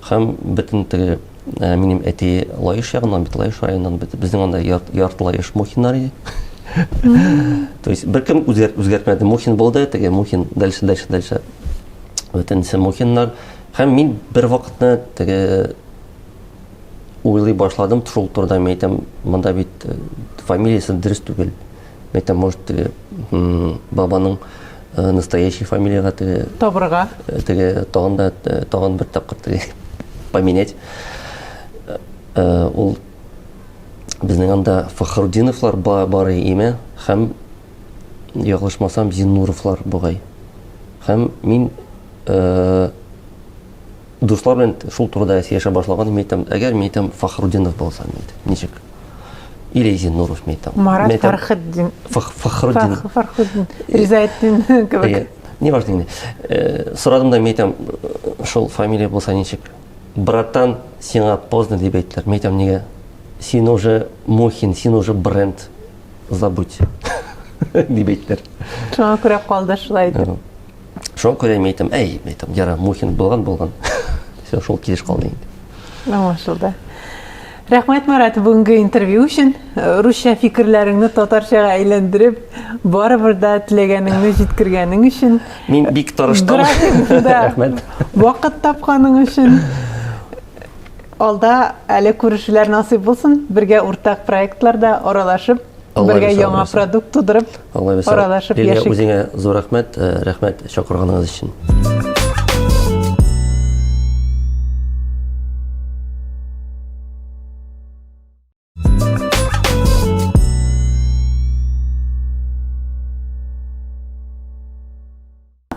Һәм бөтен теге ә, минем әти Лаеш ягыннан бит, Лаеш районыннан бит. Безнең анда ярт, ярт Лаеш Мухиннар иде. То есть беркем үзгәр, үзгәртмәде. Мухин булды, теге Мухин, дальше, дальше, дальше. Бөтенесе Мухиннар. Һәм мин бер вакытны теге уйлый башладым, шул турыда мин әйтәм, монда бит э, фамилиясе дөрес түгел. Это может теге м, бабаның э, настоящий фамилияга теге Табырга. э, теге тагын да э, тагын бер тапкыр теге поменять. Э, э, Ул безнең анда Фахрудиновлар ба- бар име һәм яклашмасам Зиннуровлар бугай. Һәм мин э, Дуслар белән шул турыда сөйләшә башлаган мин әйтәм, әгәр мин әйтәм Фахрудинов булса мин әйтәм, ничек? Или Зиннуров мин әйтәм. Марат Мин әйтәм, Фархетдин. Фах- Фахрудин. Фах- Фархуддин. Ризаэттин кебек. Әйе. Не важно инде. Э, Сорадым да мин әйтәм, э, шул фамилия булса ничек? Братан, сиңа поздно дип әйттеләр. Мин әйтәм, нигә? Син уже Мухин, син уже бренд. Забудь. Дип әйттеләр. Шуңа күрә калды шулай итеп. Э, Шуңа күрә мин әйтәм, әй, әйтәм, яра, Мухин булган булган. Все, шул килеш калды инде. Аңлашылды. Рәхмәт, Марат, бүгенге интервью өчен. Э, русча фикерләреңне татарчага әйләндереп, барыбер дә теләгәнеңне җиткергәнең өчен. Мин бик тырыштым. Рәхмәт. Вакыт тапканың өчен. Алда әле күрешүләр насыйп булсын. Бергә уртак проектларда аралашып бергә яңа продукт тудырып, аралашып яшик. Лилия, үзеңә зур рәхмәт, э, рәхмәт чакырганыгыз өчен.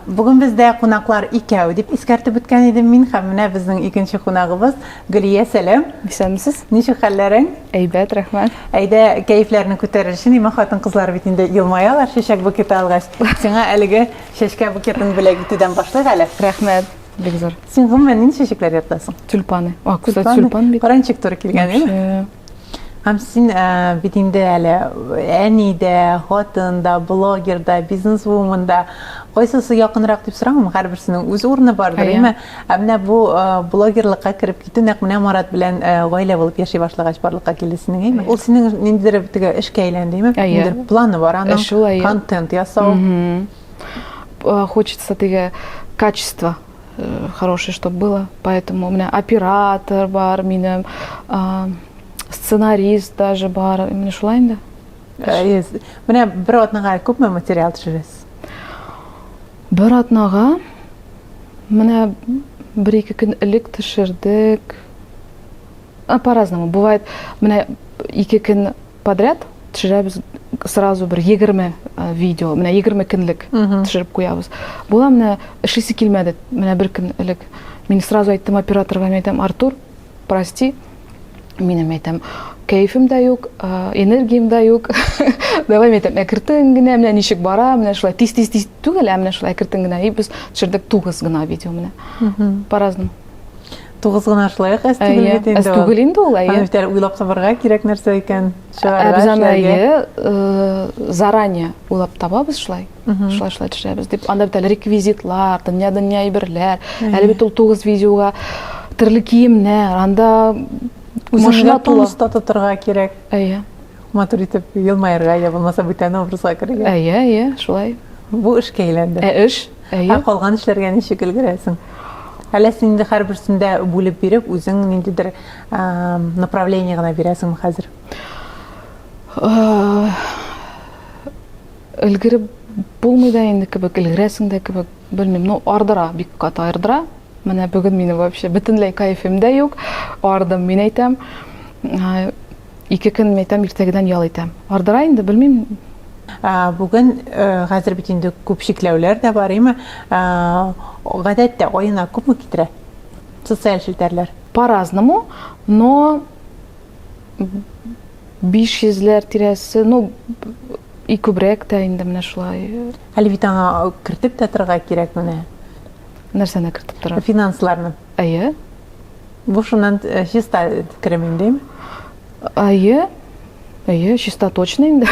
Бүген бездә кунаклар икәү дип искәртеп үткән идем мин һәм менә безнең икенче кунагыбыз Гөлия, сәлам. Исәнмесез. Ничек хәлләрең? Әйбәт, рәхмәт. Әйдә, кәефләрне күтәрер өчен, имә хатын-кызлар бит инде елмаялар чәчәк букеты алгач. Сиңа әлеге чәчкә букетын бүләк итүдән башлыйк әле. Рәхмәт, бик зур. Син гомумән нинди чәчәкләр яратасың? Тюльпаны. О, кстати, тюльпан бит. Поранчик туры килгән, әйе? Вообще. Һәм син ә, бит инде әле әни дә, хатын да, блогер да, бизнесвумен да. Кайсысы якынрак дип сорамыйм, һәрберсенең үз урыны бардыр, әйме? Ә менә бу э, блогерлыкка кереп китү нәкъ менә Марат белән э, гаилә булып яши башлагач барлыкка килде синең, әйме? Ул синең ниндидер теге эшкә әйләнде, әйме? Ниндидер планы бар аның. Шулай. Контент ясау. Э, хочется теге качество э, хорошее, чтобы было. Поэтому у меня оператор бар, меня э, сценарист даже бар. У меня шулай инде. Yes. Менә бер атнага күпме материал төшерәсез? Бер атнага менә бер ике көн элек төшердек. По-разному. Бывает, менә ике көн Подряд төшерәбез сразу бер 20 видео, менә 20 көнлек төшереп куябыз. Була менә эшлисе килмәде, менә бер көн элек. Мин сразу айттым операторга, мин әйтәм, Артур, прости, минем әйтәм, кәефем дә юк, энергиям дә юк. Давай мен әйтәм, әкертен генә, менә ничек бара, менә шулай тиз тиз тиз түгел, ә менә шулай әкертен генә. И без төшердек тугыз гына видео менә. По-разному. Тугыз гына шулай ук әз түгел бит инде. Әз түгел инде ул, әйе. Аны битәр уйлап табарга кирәк нәрсә икән. Чыгарга Без аны әйе, заранее уйлап табабыз шулай. Шулай шулай төшерәбез дип. Анда бит әле реквизитлар, дөнья-дөнья әйберләр. Әле бит ул тугыз видеога төрле киемнәр, анда машина тула. Үзеңә тотырга кирәк. Әйе. Матур итеп елмаерга, я булмаса бүтән образга керергә. Әйе, әйе, шулай. Бу эшкә әйләнде. Ә эш? Әйе. Ә калган эшләргә ничек өлгерәсең? Әллә син инде һәрберсен дә бүлеп биреп, үзең ниндидер направление гына бирәсеңме хәзер? Өлгереп булмый да инде кебек, өлгерәсең дә кебек, белмим, ну ардыра, бик каты ардыра. Менә бүген мине вообще бөтенләй кайфым да юк, ардым, мин әйтәм. Ике көн мәйтәм, иртәгедән ял итәм. Ардыра инде, белмим. Бүген, хәзер бит инде күп чикләүләр дә бар, име? Гадәттә аена күпме китерә социаль челтәрләр? По-разному, но 500 ләр тирәсе, ну и күбрәк тә инде менә шулай. Әле бит аңа кертеп тә торырга кирәк менә. Нәрсәне кертеп торырга? Финансларны. Әйе. Бу шуннан э, чиста керем инде. Әйе. Әйе, чиста точно инде.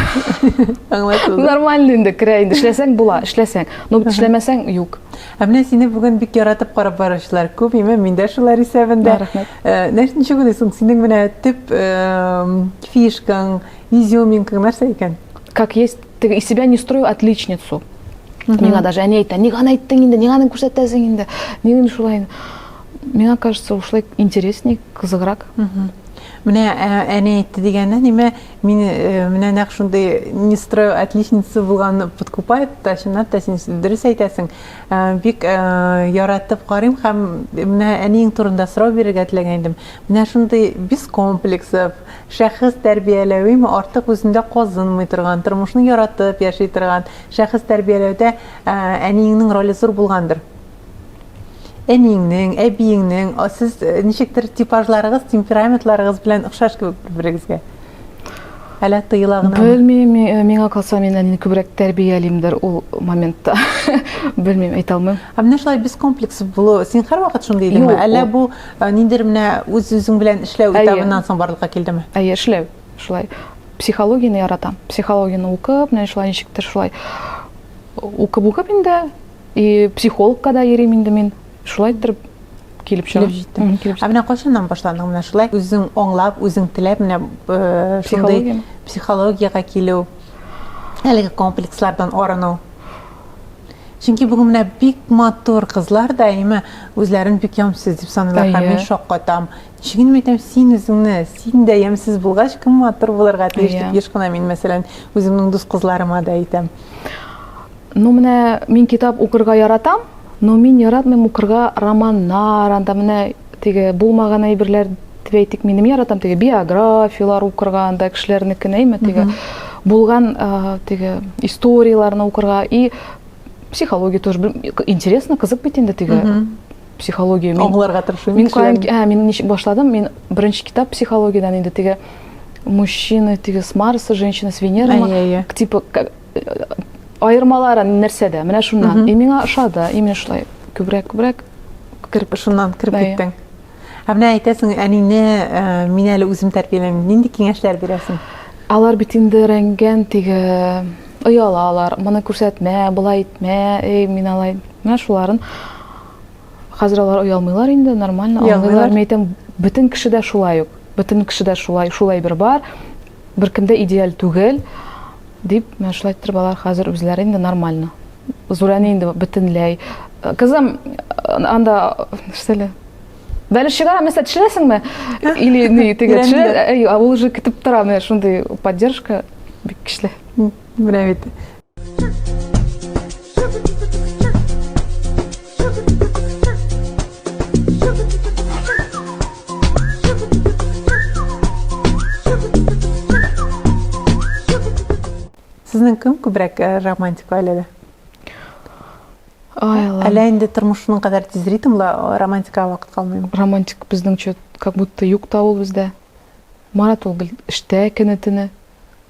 Аңлатылды. Нормально инде керә инде. Эшләсәң була, эшләсәң. Но бит эшләмәсәң юк. Ә менә сине бүген бик яратып карап баручылар күп, име мин дә шулар исәбендә. Рәхмәт. Э, нәрсә ничек уйлыйсың, синең менә төп э, фишкаң, изюминкаң нәрсә икән? Как есть Теге из себя не строю отличницу. Миңа даже әни әйтә, нигә аны әйттең инде, нигә аны күрсәтәсең инде, нигә шулай. Миңа кажется, ушлай интересней, кызыграк. Менә әни әйтте дигәндә, нимә, мин менә нәкъ шундый не строю отличница булган подкупает, та чынлап та син дөрес әйтәсең. Бик яратып карыйм һәм менә әниең турында сорау бирергә теләгән идем. Менә шундый без комплексов, Шәхес тәрбияләвеме артык үзендә казынмый торган, тормышны яратып яши торган шәхес тәрбияләүдә әниеңнең роле зур булгандыр. Әниеңнең, әбиеңнең, сез ничектер типажларыгыз, темпераментларыгыз белән охшаш кебек бер-берегезгә. Әлә тыела гына. Белмим, миңа калса мин әнине күбрәк тәрбиялимдер ул моментта. Белмим, әйтә алмыйм. Ә менә шулай без комплекс булу, син һәрвакыт шундый идеңме? Әллә бу Ә ниндидер менә үз-үзең белән эшләү Әйе. этабыннан соң барлыкка килдеме? Әйе, эшләү. Шулай психологияне яратам. Психологияне укып, менә шулай ничектер шулай укып-укып инде и психологка да йөрим инде мин. Шулай иттереп килеп чыга. Килеп җиттең. Мгм, килеп Ә менә кайчаннан башландың менә шулай үзең аңлап, үзең теләп менә э, шундый Психологияме? психологиягә килү, әлеге комплекслардан арыну? Чөнки бүген менә бик матур кызлар да әйме үзләрен бик ямсыз дип саныйлар һәм мин шаккатам. Ничек инде әйтәм, син үзеңне, син дә ямсыз булгач, кем матур булырга тиеш дип еш кына мин мәсәлән үземнең дус кызларыма да әйтәм. Ну менә мин китап укырга яратам, но мин яратмыйм укырга романнар, анда менә Теге булмаган әйберләр дип әйтик, минем яратам теге биографиялар укырга, анда кешеләрнекен әйме теге булган теге историяләрне укырга и психология тоже интересно, кызык бит инде теге психология. Аңларга тырышам. Мин кайын, ә мин ничек башладым? Мин беренче китап психологиядән инде теге мужчины, теге с Марса, женщины с Венеры, типа Аермалары нәрсәдә? Менә шуннан. И миңа ошады, и менә шулай күбрәк күбрәк кереп шуннан кереп киттең. Ә менә әйтәсең, әнине э, мин әле үзем тәрбиялим. Нинди киңәшләр бирәсең? Алар бит инде рәнгән теге ояла алар. Моны күрсәтмә, болай итмә, эй, мин алай. Менә шуларын хәзер алар оялмыйлар инде, нормально. Оялмыйлар. Мин әйтәм, бөтен кешедә шулай ук. Бөтен кешедә шулай, шулай бер бар. Беркем дә идеаль түгел, дип, менә шулай иттереп алар хәзер үзләре инде нормально. Зурәне инде бөтенләй. Кызым, анда, нәрсәле, Бәлеш чыгара, мәсәлән, төшерәсеңме? Или ни, теге, төшерә, ул уже көтеп тора, менә шундый поддержка бик көчле. Менә бит. Сезнең кем күбрәк э, романтик гаиләдә? Әллә инде тормышның кадәр тизритмлы романтикага вакыт калмыймы? Романтик безнеңчә как будто юк та ул бездә. Марат ул гел эштә көне-төне.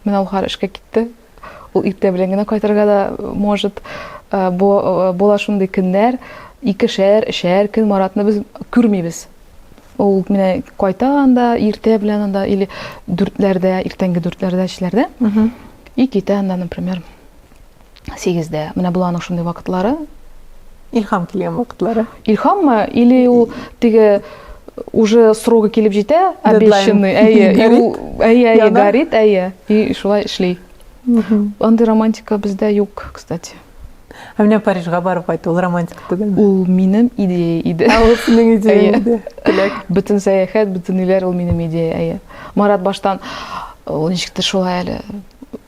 Менә ул хәзер эшкә китте. Ул иртә белән генә кайтырга да может. Э, бу э, була шундый көннәр, икешәр, өчәр көн Маратны без күрмибез. Ул менә кайта анда иртә белән анда или дүртләрдә, иртәнге дүртләрдә, өчләрдә. И китә анда, например. сигездә. Менә бул аның шундый вакытлары. Илхам килгән вакытлары. Илхаммы или ул теге уже срогы килеп җитә, обещанный, әйе, әйе, әйе, горит, әйе, и шулай эшли. Андый романтика бездә юк, кстати. Ә менә Парижга барып кайту ул романтика түгелме? Ул минем идея иде. Ә ул синең идея иде. Теләк. Бөтен сәяхәт, бөтен иләр ул минем идея, әйе. Марат баштан ул ничектер шулай әле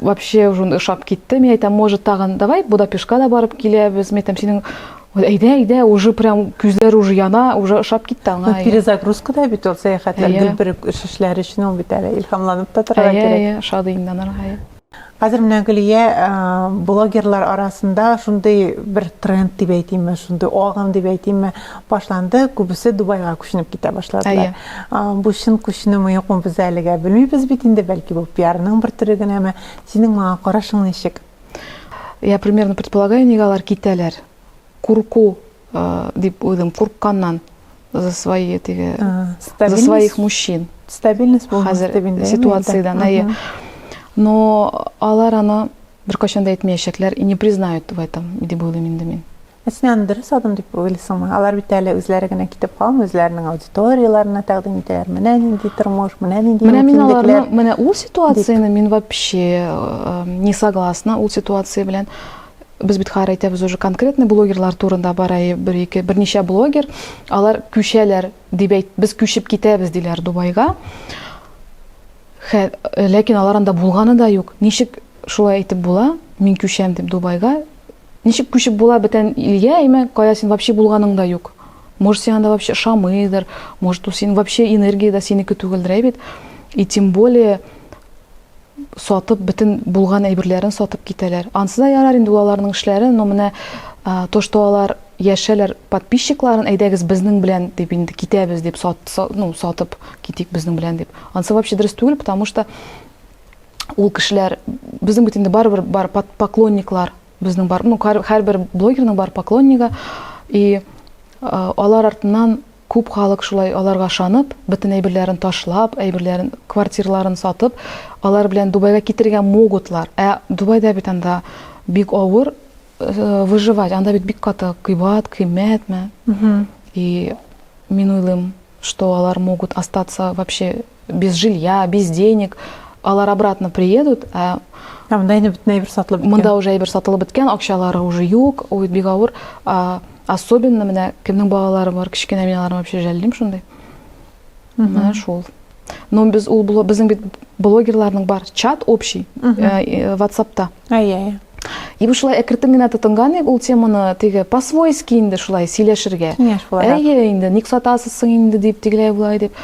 Вообще уже ошап китте. Мин әйтәм, может, тагын давай Будапешка да барып киләбез. Мин әйтәм, синең әйдә, әйдә, уже прям күзләр уже яна, уже ошап китте аңа. Ну, перезагрузка да бит ул сәяхәтләр, yeah. гел бер эш эшләр өчен ул бит әле илһамланып та торырга yeah, кирәк. Әйе, шат иннанырга. Хәзер менә Гөлия блогерлар арасында шундый бер тренд дип әйтимме, шундый агым дип әйтимме, башланды. Күбесе Дубайга күченеп китә башладылар. Бу чын күченүме, юкмы, без әлегә белмибез бит инде, бәлки бу пиарның бер төре генәме? Синең моңа карашың ничек? Я примерно предполагаю, нигә алар китәләр. Курку дип уйлыйм, курыкканнан за свои теге, за своих мужчин. Стабильность булмас дип инде. Хәзер ситуациядән, әйе. Но алар аны беркайчан да әйтмәячәкләр и не признают в этом, дип уйлыйм инде мин. Ә син аны дөрес адым дип уйлыйсыңмы? Алар бит әле үзләре генә китеп калмый, үзләренең аудиторияләренә тәкъдим итәләр. Менә нинди тормыш, менә нинди Менә мин аларны, менә ул ситуацияне мин вообще э, не согласна ул ситуация белән без бит хәер әйтәбез уже конкретный блогерлар турында бара бер ике берничә блогер алар күчәләр дип әйт без күчеп китәбез диләр дубайга Хә, ләкин алар анда булганы да юк ничек шулай әйтеп була мин күчәм дип дубайга Ничек күчеп була бетән илгә, әйме, кая син вообще булганың да юк. Может, сиңа да вообще ошамыйдыр, может, ул син вообще энергия да синеке түгелдер, әй бит. И тем более сатып бетен булган әйберләрен сатып китәләр. Ансы да ярар инде улаларның эшләре, но менә то, что алар яшәләр подписчикларын әйдәгез безнең белән дип инде китәбез дип сат, ну, сатып китик безнең белән дип. Ансы вообще дөрес түгел, потому что ул кешеләр безнең бит инде барыбер бар поклонниклар безнең бар ну һәрбер блогерның бар поклоннигы и алар артыннан күп халык шулай аларга ышанып бөтен әйберләрен ташлап әйберләрен квартираларын сатып алар белән дубайга китергә могутлар ә дубайда бит анда бик авыр э, выживать анда бит бик каты кыйбат кыйммәтме и мин уйлыйм Что алар могут остаться вообще без жилья, без денег, алар обратно приедут, ә Ә монда инде бөтен әйбер сатылып беткән. Монда уже әйбер сатылып беткән, акчалары уже юк, ой, бик авыр. А, особенно менә кемнең балалары бар, кечкенә мин аларны вообще жәллим шундый. Менә шул. Но без ул безнең бит блогерларның бар чат общий э, э, WhatsApp-та. Әйе. И бу шулай әкертен генә тотынган ик ул теманы теге по-свойски инде шулай сөйләшергә. Киңәш буларак. Әйе инде, ник сатасыз соң инде дип, тегеләй булай дип.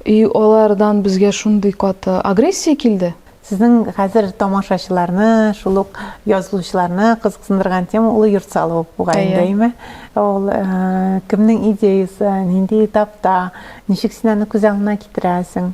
И алардан безгә шундый каты агрессия килде. Сезнең хәзер тамашачыларны, шул ук язылучыларны кызыксындырган тема ул йорт салу бугай инде, әйме? Ул кемнең идеясе, нинди этапта, ничек син аны күз алдына китерәсең?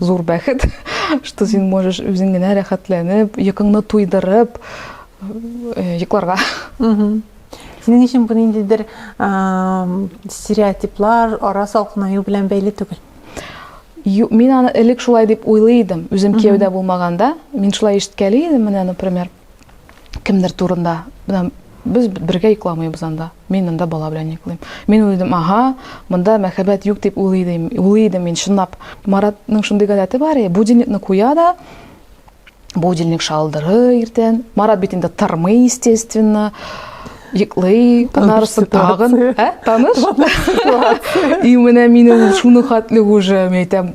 зур бәхет, что син можешь үзең генә рәхәтләнеп, йокыңны туйдырып э, йокларга. Синең өчен бу ниндидер стереотиплар, ара салкынаю белән бәйле түгел. Мин аны элек шулай дип уйлый идем, үзем кияүдә булмаганда, мин шулай ишеткәли идем, менә, например, кемдер турында без бергә йокламыйбыз анда мин анда бала белән йоклыйм мин уйлыйдым ага монда мәхәббәт юк дип уйлыйдым уйлыйдым мин чынлап маратның шундый гадәте бар и будильникны куя да будильник шалдырый иртән марат бит инде тормый естественно йоклый анарысы тагын ә таныш и менә мине шуны хәтле уже мен әйтәм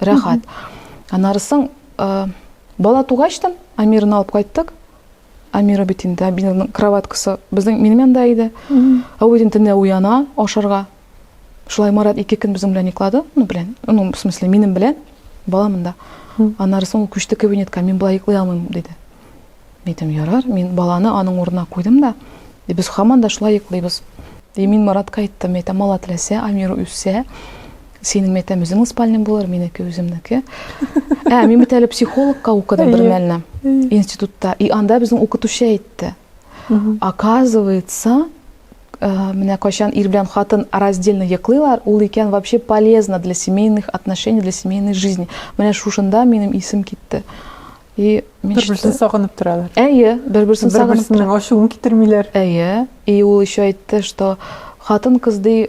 рәхәт аннары соң э, бала тугачтан амирны алып кайттык амира бит инде амирның кроваткасы безнең минем янда иде ә ул инде төнлә уяна ашарга шулай марат ике көн безнең белән йоклады ну белән ну в смысле минем белән бала монда аннары соң күчте кабинетка мин былай йоклый алмыйм диде Әйтем, ярар, мин баланы аның урынына куйдым да, и без хаман да шулай йоклыйбыз. И мин Маратка әйттем, әйтәм, мала теләсә, Амир үссә, Синең мәйтәм үзеңнең спальня булыр, минеке үземнеке. Ә, мин бит әле психологка укыдым бер мәлне институтта. И анда безнең укытучы әйтте. Оказывается, Э, менә кайчан ир белән хатын раздельно йоклыйлар, ул икән вообще полезно для семейных отношений, для семейной жизни. Менә шушында минем исем китте. И мин бер-берсен сагынып торалар. Әйе, бер-берсен сагынып. Бер-берсенең ачуын китермиләр. Әйе. И ул еще әйтте, что хатын кыз ди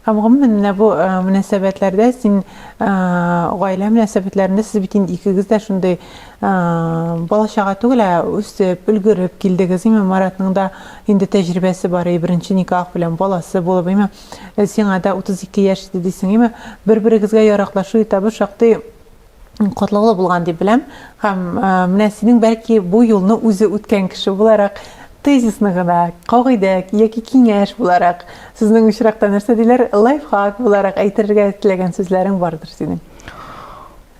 Һәм гомумән менә бу э, мөнәсәбәтләрдә син э, гаилә мөнәсәбәтләрендә сез бит инде икегез дә шундый э, бала чага түгел, ә үсеп, өлгереп килдегез. Имә Маратның да инде тәҗрибәсе бар, и беренче никах белән баласы булып, имә сиңа да 32 яшь иде дисең, имә бер-берегезгә яраклашу этабы шактый катлаулы булган дип беләм. Һәм менә синең бәлки бу юлны үзе үткән кеше буларак тезисны гына, кагыйдә яки киңәш буларак, сезнең очракта нәрсә диләр, лайфхак буларак әйтергә теләгән сүзләрең бардыр синең.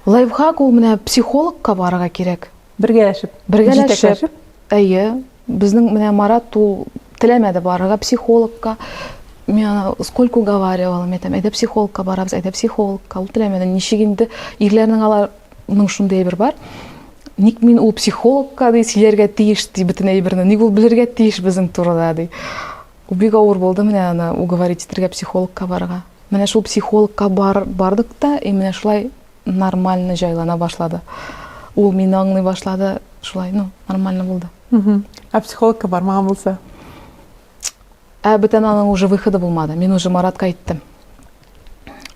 Лайфхак ул менә психологка барырга кирәк. Бергәләшеп. Бергәләшеп. Әйе. Безнең менә Марат ул теләмәде барырга психологка. Мин ана сколько уговаривала, мин әйтәм, әйдә психологка барабыз, әйдә психологка. Ул теләмәде. Ничек инде ирләрнең аларның шундый әйбер бар. Ник мин ул психологка ди, сөйләргә тиеш ди бөтен әйберне. Ник ул белергә тиеш безнең турыда ди. Ул бик авыр булды менә аны уговорить итәргә психологка барырга. Менә шул психологка бар, бардык та, и менә шулай нормально җайлана башлады. Ул мине аңлый башлады, шулай, ну, нормально булды. Ә психологка бармаган булса? Ә бүтән аның уже выходы булмады. Мин уже Маратка әйттем.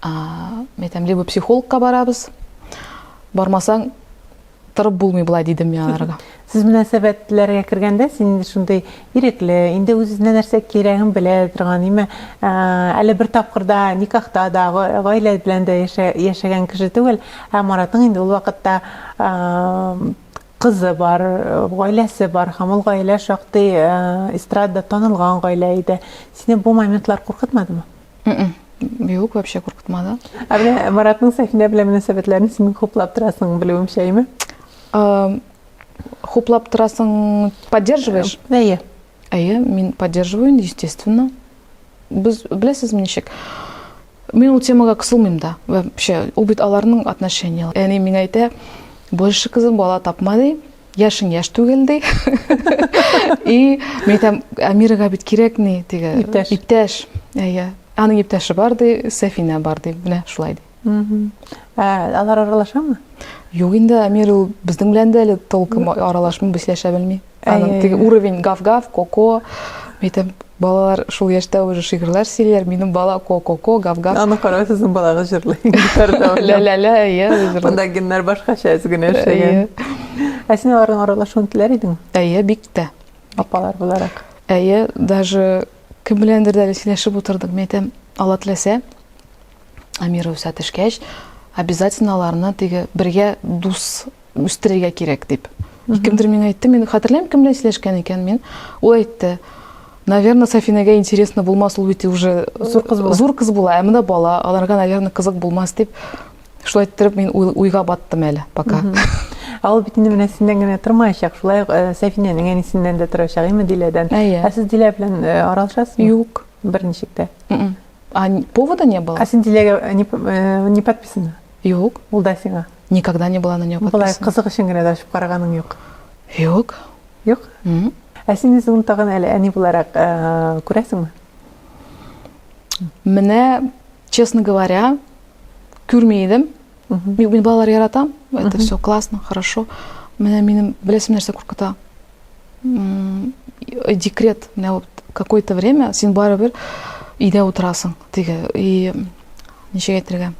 Мен әйтәм, либо психологка барабыз, бармасаң, Торып булмый болай, дидем мин аларга. Сез мөнәсәбәтләргә кергәндә, син инде шундый ирекле, инде үз-үзенә нәрсә кирәген белә торган, име, әле бер тапкырда никахта да, гаилә белән дә яшәгән кеше түгел, ә Маратның инде ул вакытта кызы бар, гаиләсе бар, һәм ул гаилә шактый эстрадада танылган гаилә иде. Сине бу моментлар куркытмадымы? Юк, вообще куркытмады. Ә менә Маратның Сәхинә белән мөнәсәбәтләрен син хуплап торасың, белүемчә, әйме? Хуплап торасың, поддерживаешь? Әйе. Әйе, мин поддерживаю, естественно. Без беләсезме ничек? Мин ул темага кысылмыйм да. Вообще, ул бит аларның отношенияләре. Әни миңа әйтә, больше кызым бала тапма ди. яшең яш түгел ди и мен айтам амирага бит кирәк ни теге иптәш иптәш иә аның иптәше бар ди сәфина бар ди менә шулай ди ә алар аралашамы юк инде амир ул безнең белән дә әле толком аралашмый без сөйләшә белми аның теге уровень гав гав коко мен айтам Балалар шул яшьтә уже шигырьләр сөйлиләр. Минем бала ко-ко-ко, гав-гав. Аны карау сезнең балагыз җырлый. Гитарда уйнап. Лә-лә-лә, әйе, җырлый. Монда геннар башкача әз генә эшләгән. Ә син аларның аралашуын теләр идеңме? Әйе, бик тә. Апалар буларак. Әйе, даже кем беләндер дә әле сөйләшеп утырдык. Мин әйтәм, Алла теләсә, Амира үсә төшкәч, обязательно аларны теге бергә дус үстерергә кирәк дип. Кемдер миңа әйтте, мин хәтерләмим, кем белән сөйләшкән икән мин. Ул әйтте, наверное, Сафинәгә интересно булмас, ул бит уже зур кыз була. Зур кыз була, ә менә бала, аларга, наверное, кызык булмас дип. Шулай иттереп мин уйга баттым әле пока. Ә ул бит инде менә синнән генә тормаячак, шулай ук э, Сәфинәнең әнисеннән дә торачак, име Диләдән. Әйе. Ә сез Дилә белән э, аралашасызмы? Юк. Берничек тә. М-м. А повода не было? А син Диләгә э, не подписана? Юк. Ул да сиңа. Никогда не была на нее подписана. Болай кызык өчен генә дә ачып караганың юк. Юк. Юк? Угу. Ә син үзең тагын әле әни буларак э, күрәсеңме? Менә, честно говоря, күрми идем. Мин балалар яратам. Это все классно, хорошо. Менә минем беләсем нәрсә куркыта. декрет менә вот какое то время син барыбер өйдә утырасың теге и ничек әйтергә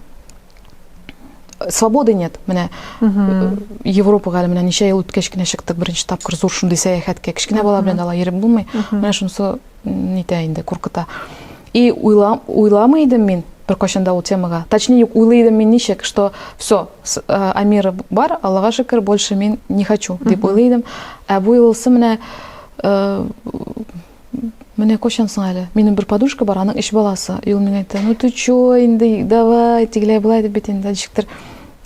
свободы нет менә э, европага әле менә ничә ел үткәч кенә чыктык беренче тапкыр зур шундый сәяхәткә кечкенә бала белән ала йөреп булмый менә шунысы нитә инде, куркыта. И уйла, уйламый идем мин бер кашында ул темага. Точнее, юк, уйлый идем мин ничек, что все, э, Амира бар, Аллаһга шөкер, больше мин не хочу, дип уйлый идем. Ә бу юлысы менә э, Менә кошан соң әле. Минем бер подушка бар, аның эш баласы. Юл миңа әйтте, ну ты чё, инде, давай, тигеләй былай дип бит инде, ничектер.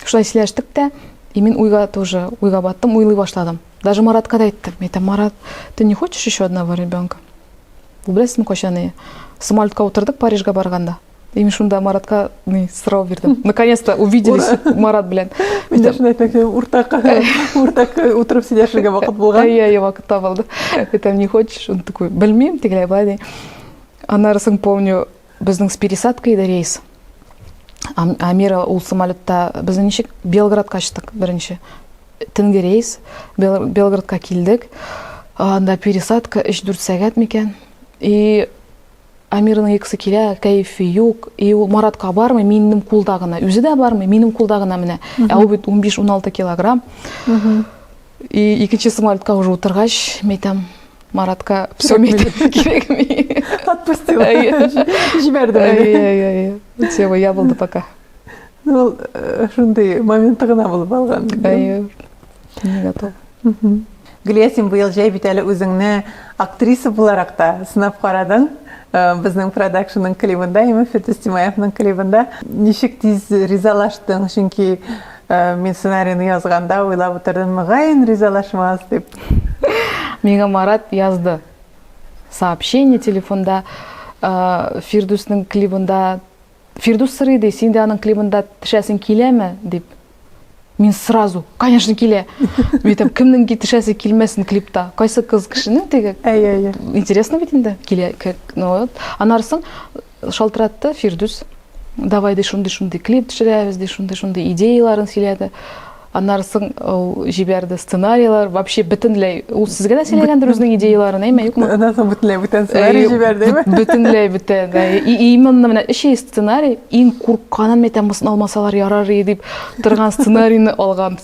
Шулай сөйләштек тә, и мин уйга тоже, уйга баттым, уйлый башладым. Даже Маратка да әйттем. Әйтәм, Марат, ты не хочешь еще одного ребенка? Ул беләсезме кайчан ни? Самолетка утырдык Парижга барганда. И мин шунда Маратка ни сорау бирдем. Наконец-то увиделись Марат белән. Мин дә шуны әйтмәкче, уртак, уртак утырып сөйләшергә вакыт булган. Иә, иә, вакыт табылды. Әйтәм, не хочешь? Он такой, белмим, тегеләй, былай ди. Аннары соң помню, Безнең с пересадкой иде рейс. Амира ул самолетта без ничек Белградка очтык беренче. Төнге рейс Белградка килдек. Анда пересадка 3-4 сәгать микән. И Амирның икесе килә, кәефе юк. И ул Маратка бармый, минем кулда гына. Үзе дә бармый, минем кулда гына менә. Ә ул бит 15-16 килограмм. И икенче самолетка уже утыргач, мен әйтәм, Маратка все кирәкми. Отпустила. Җибәрде. Әйе, әйе. Все, я булды пока. Ну, э, шундый моменты гына булып алган. Әйе. Не готов. Гүлия, син быел җәй бит әле үзеңне актриса буларак та сынап карадың. Э, безнең продакшнның клибында, Имам Фирдүс Тимаевның клибында. Ничек тиз ризалаштың? Чөнки Мин сценарийны язганда уйлап утырдым, мөгаен ризалашмас дип. Миңа Марат язды. Сообщение телефонда Фирдүснең клибында Фирдүс сырый ди, син дә аның клибында тешәсең киләме дип. Мин сразу, конечно, килә. Мин әйтәм, кемнең тешәсе килмәсен клипта? Кайсы кыз кешенең теге? Әйе, әйе. Интересно бит инде, килә. Ну вот. Анарсын Шалтыратты Фирдүс. Давай ди шундый-шундый клип төшерәбез ди, шундый-шундый идеяларын сөйләде. Аннары соң ул җибәрде сценарийлар, вообще бөтенләй ул сезгә дә сөйләгәндер үзенең идеяларын, әйме, юкмы? Аннан соң бөтенләй бүтән сценарий җибәрдеме? Бөтенләй бүтән. И именно менә өч сценарий, иң куркканым әйтәм, мосын алмасалар ярар иде дип торган сценарийны алган.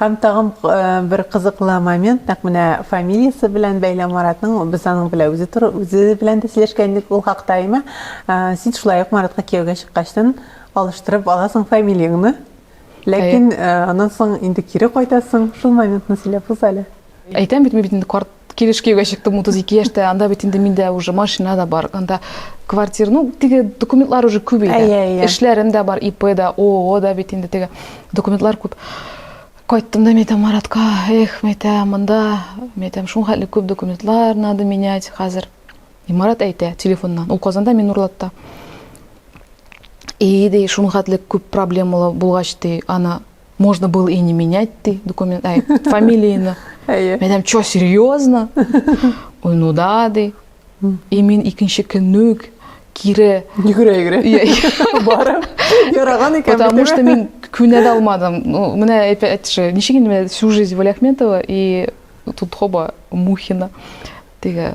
Һәм тагын бер кызыклы момент, нәкъ менә фамилиясе белән бәйле Маратның, без аның белән үзе туры, үзе белән дә сөйләшкән идек ул хакта, әйме? Син шулай ук Маратка кияүгә чыккачтын алыштырып аласың фамилияңны. Ләкин аннан соң инде кире кайтасың. Шул моментны сөйләп үз әле. Әйтәм бит, мин бит инде карт килеш кияүгә чыктым 32 яшьтә, анда бит инде миндә уже машина да бар, анда квартира, ну, теге документлар уже күп иде. Әйе, әйе. Эшләрем дә бар, ИП да, ООО да бит инде теге документлар күп. Кайттым да, мәйтәм, Маратка, эх, мәйтәм, монда, мәйтәм, шул хәтле күп документлар надо менять хәзер. И Марат әйтә телефоннан, ул Казанда, мин Нурлатта. И, ди, шул хәтле күп проблемалы булгач, ди, аны можно было и не менять ты документ, ай, фамилияны. Әйе. Мен әйтәм, чё, серьезно? Ой, ну да, ди. И мин икенче көнне үк кире йөгерә йөгерә барып яраган икән потому что мин күнә дә алмадым ну менә опять же ничек инде менә всю жизнь валяхметова и тут хоба мухина теге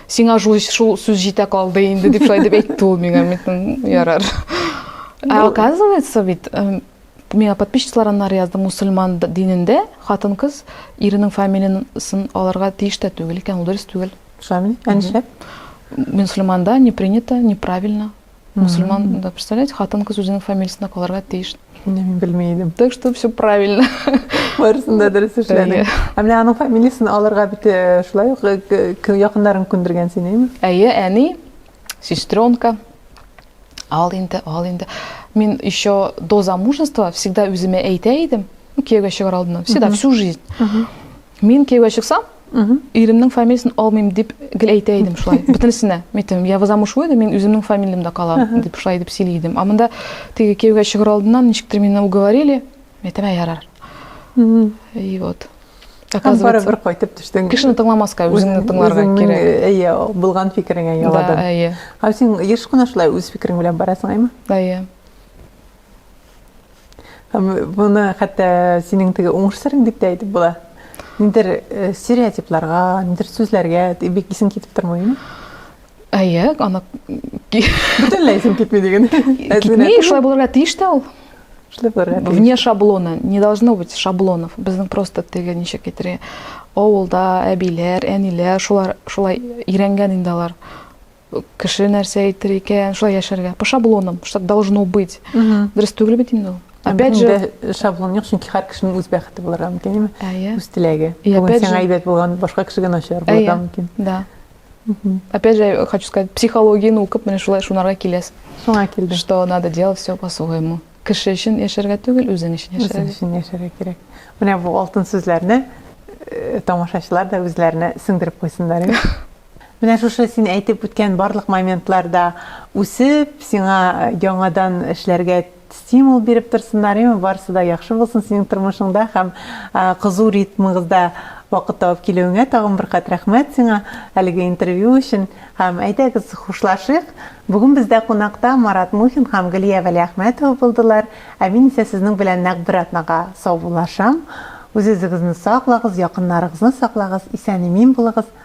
Сиңа шул, шул сүз җитә калды инде, дип шулай дип әйтте ул миңа. Мин ярар. Ә оказывается бит, миңа подписчиклар аннары язды, мусульман динендә хатын-кыз иренең фамилиясын алырга тиеш тә түгел икән, ул дөрес түгел. Шулаймы? Ә нишләп? Мусульманда не принято, неправильно. Мусульман, да, представляете, хатын-кыз үзенең фамилиясендә калырга тиеш. Менә мин белми идем. Так что все правильно. Барысын да дөрес эшләдең. Ә менә аның фамилиясен алырга бит э, шулай ук э, якыннарың күндергән сине, әйме? Әйе, әни, сестренка. Ал инде, ал инде. Мин еще до замужества всегда үземә әйтә идем, ну, кияүгә чыгар алдыннан, всегда, всю жизнь. Мин кияүгә чыксам, Иремнең фамилиясен алмыйм дип гел әйтә идем шулай. Бөтенесенә. Митем, я возаму шуй да мин үземнең фамилиямдә калам дип шулай дип сөйли идем. А монда теге кияүгә чыгыр алдыннан ничектер мине уговорили. Митем, ә ярар. И вот. Оказывается, бары бер кайтып төштең. Кешене тыңламаска, үзеңне тыңларга кирәк. Әйе, булган фикереңә яладың. Да, әйе. Һәм син еш кына шулай үз фикерең белән барасың, әйме? Әйе. Моны хәтта синең теге уңыш серең дип тә әйтеп була. Ниндер э, стереотипларга, ниндер сүзләргә бик исең китеп тормыймы? Әйе, аны бөтенләй исең китми диген. Китми, шулай булырга тиеш тә ул. Шулай булырга тиеш. Вне шаблона, не должно быть шаблонов. Безнең просто теге ничек әйтергә, авылда әбиләр, әниләр, шулар шулай өйрәнгән инде алар. Кеше нәрсә әйтер икән, шулай яшәргә. По шаблонам, что так должно быть. Дөрес түгел бит инде ул. Опять же, шаблон юк, чөнки һәр кешенең үз бәхете булырга мөмкин, яме? Әйе. Үз теләге. Бүген сиңа әйбәт булган, башка кешегә начар булырга мөмкин. Да. Опять же, хочу сказать, психологияне укып, менә шулай шунарга киләс. Шуңа килде. Что надо делать все по-своему. Кеше өчен яшәргә түгел, үзең өчен яшәргә. Үзең өчен яшәргә кирәк. Менә бу алтын сүзләрне э, тамашачылар да үзләренә сеңдереп куйсыннар. Менә шушы син әйтеп үткән барлык моментлар да үсеп, сиңа яңадан эшләргә стимул биреп торсыннар, яме, барысы да яхшы булсын синең тормышыңда һәм кызу ритмыгызда вакыт табып килүеңә тагын бер кат рәхмәт сиңа әлеге интервью өчен. Һәм әйдәгез хушлашыйк. Бүген бездә кунакта Марат Мухин һәм Гөлия Вәлиәхмәтова булдылар. Ә мин исә сезнең белән нәкъ бер атнага саубуллашам. Үз-үзегезне саклагыз, якыннарыгызны саклагыз, исән-имин булыгыз.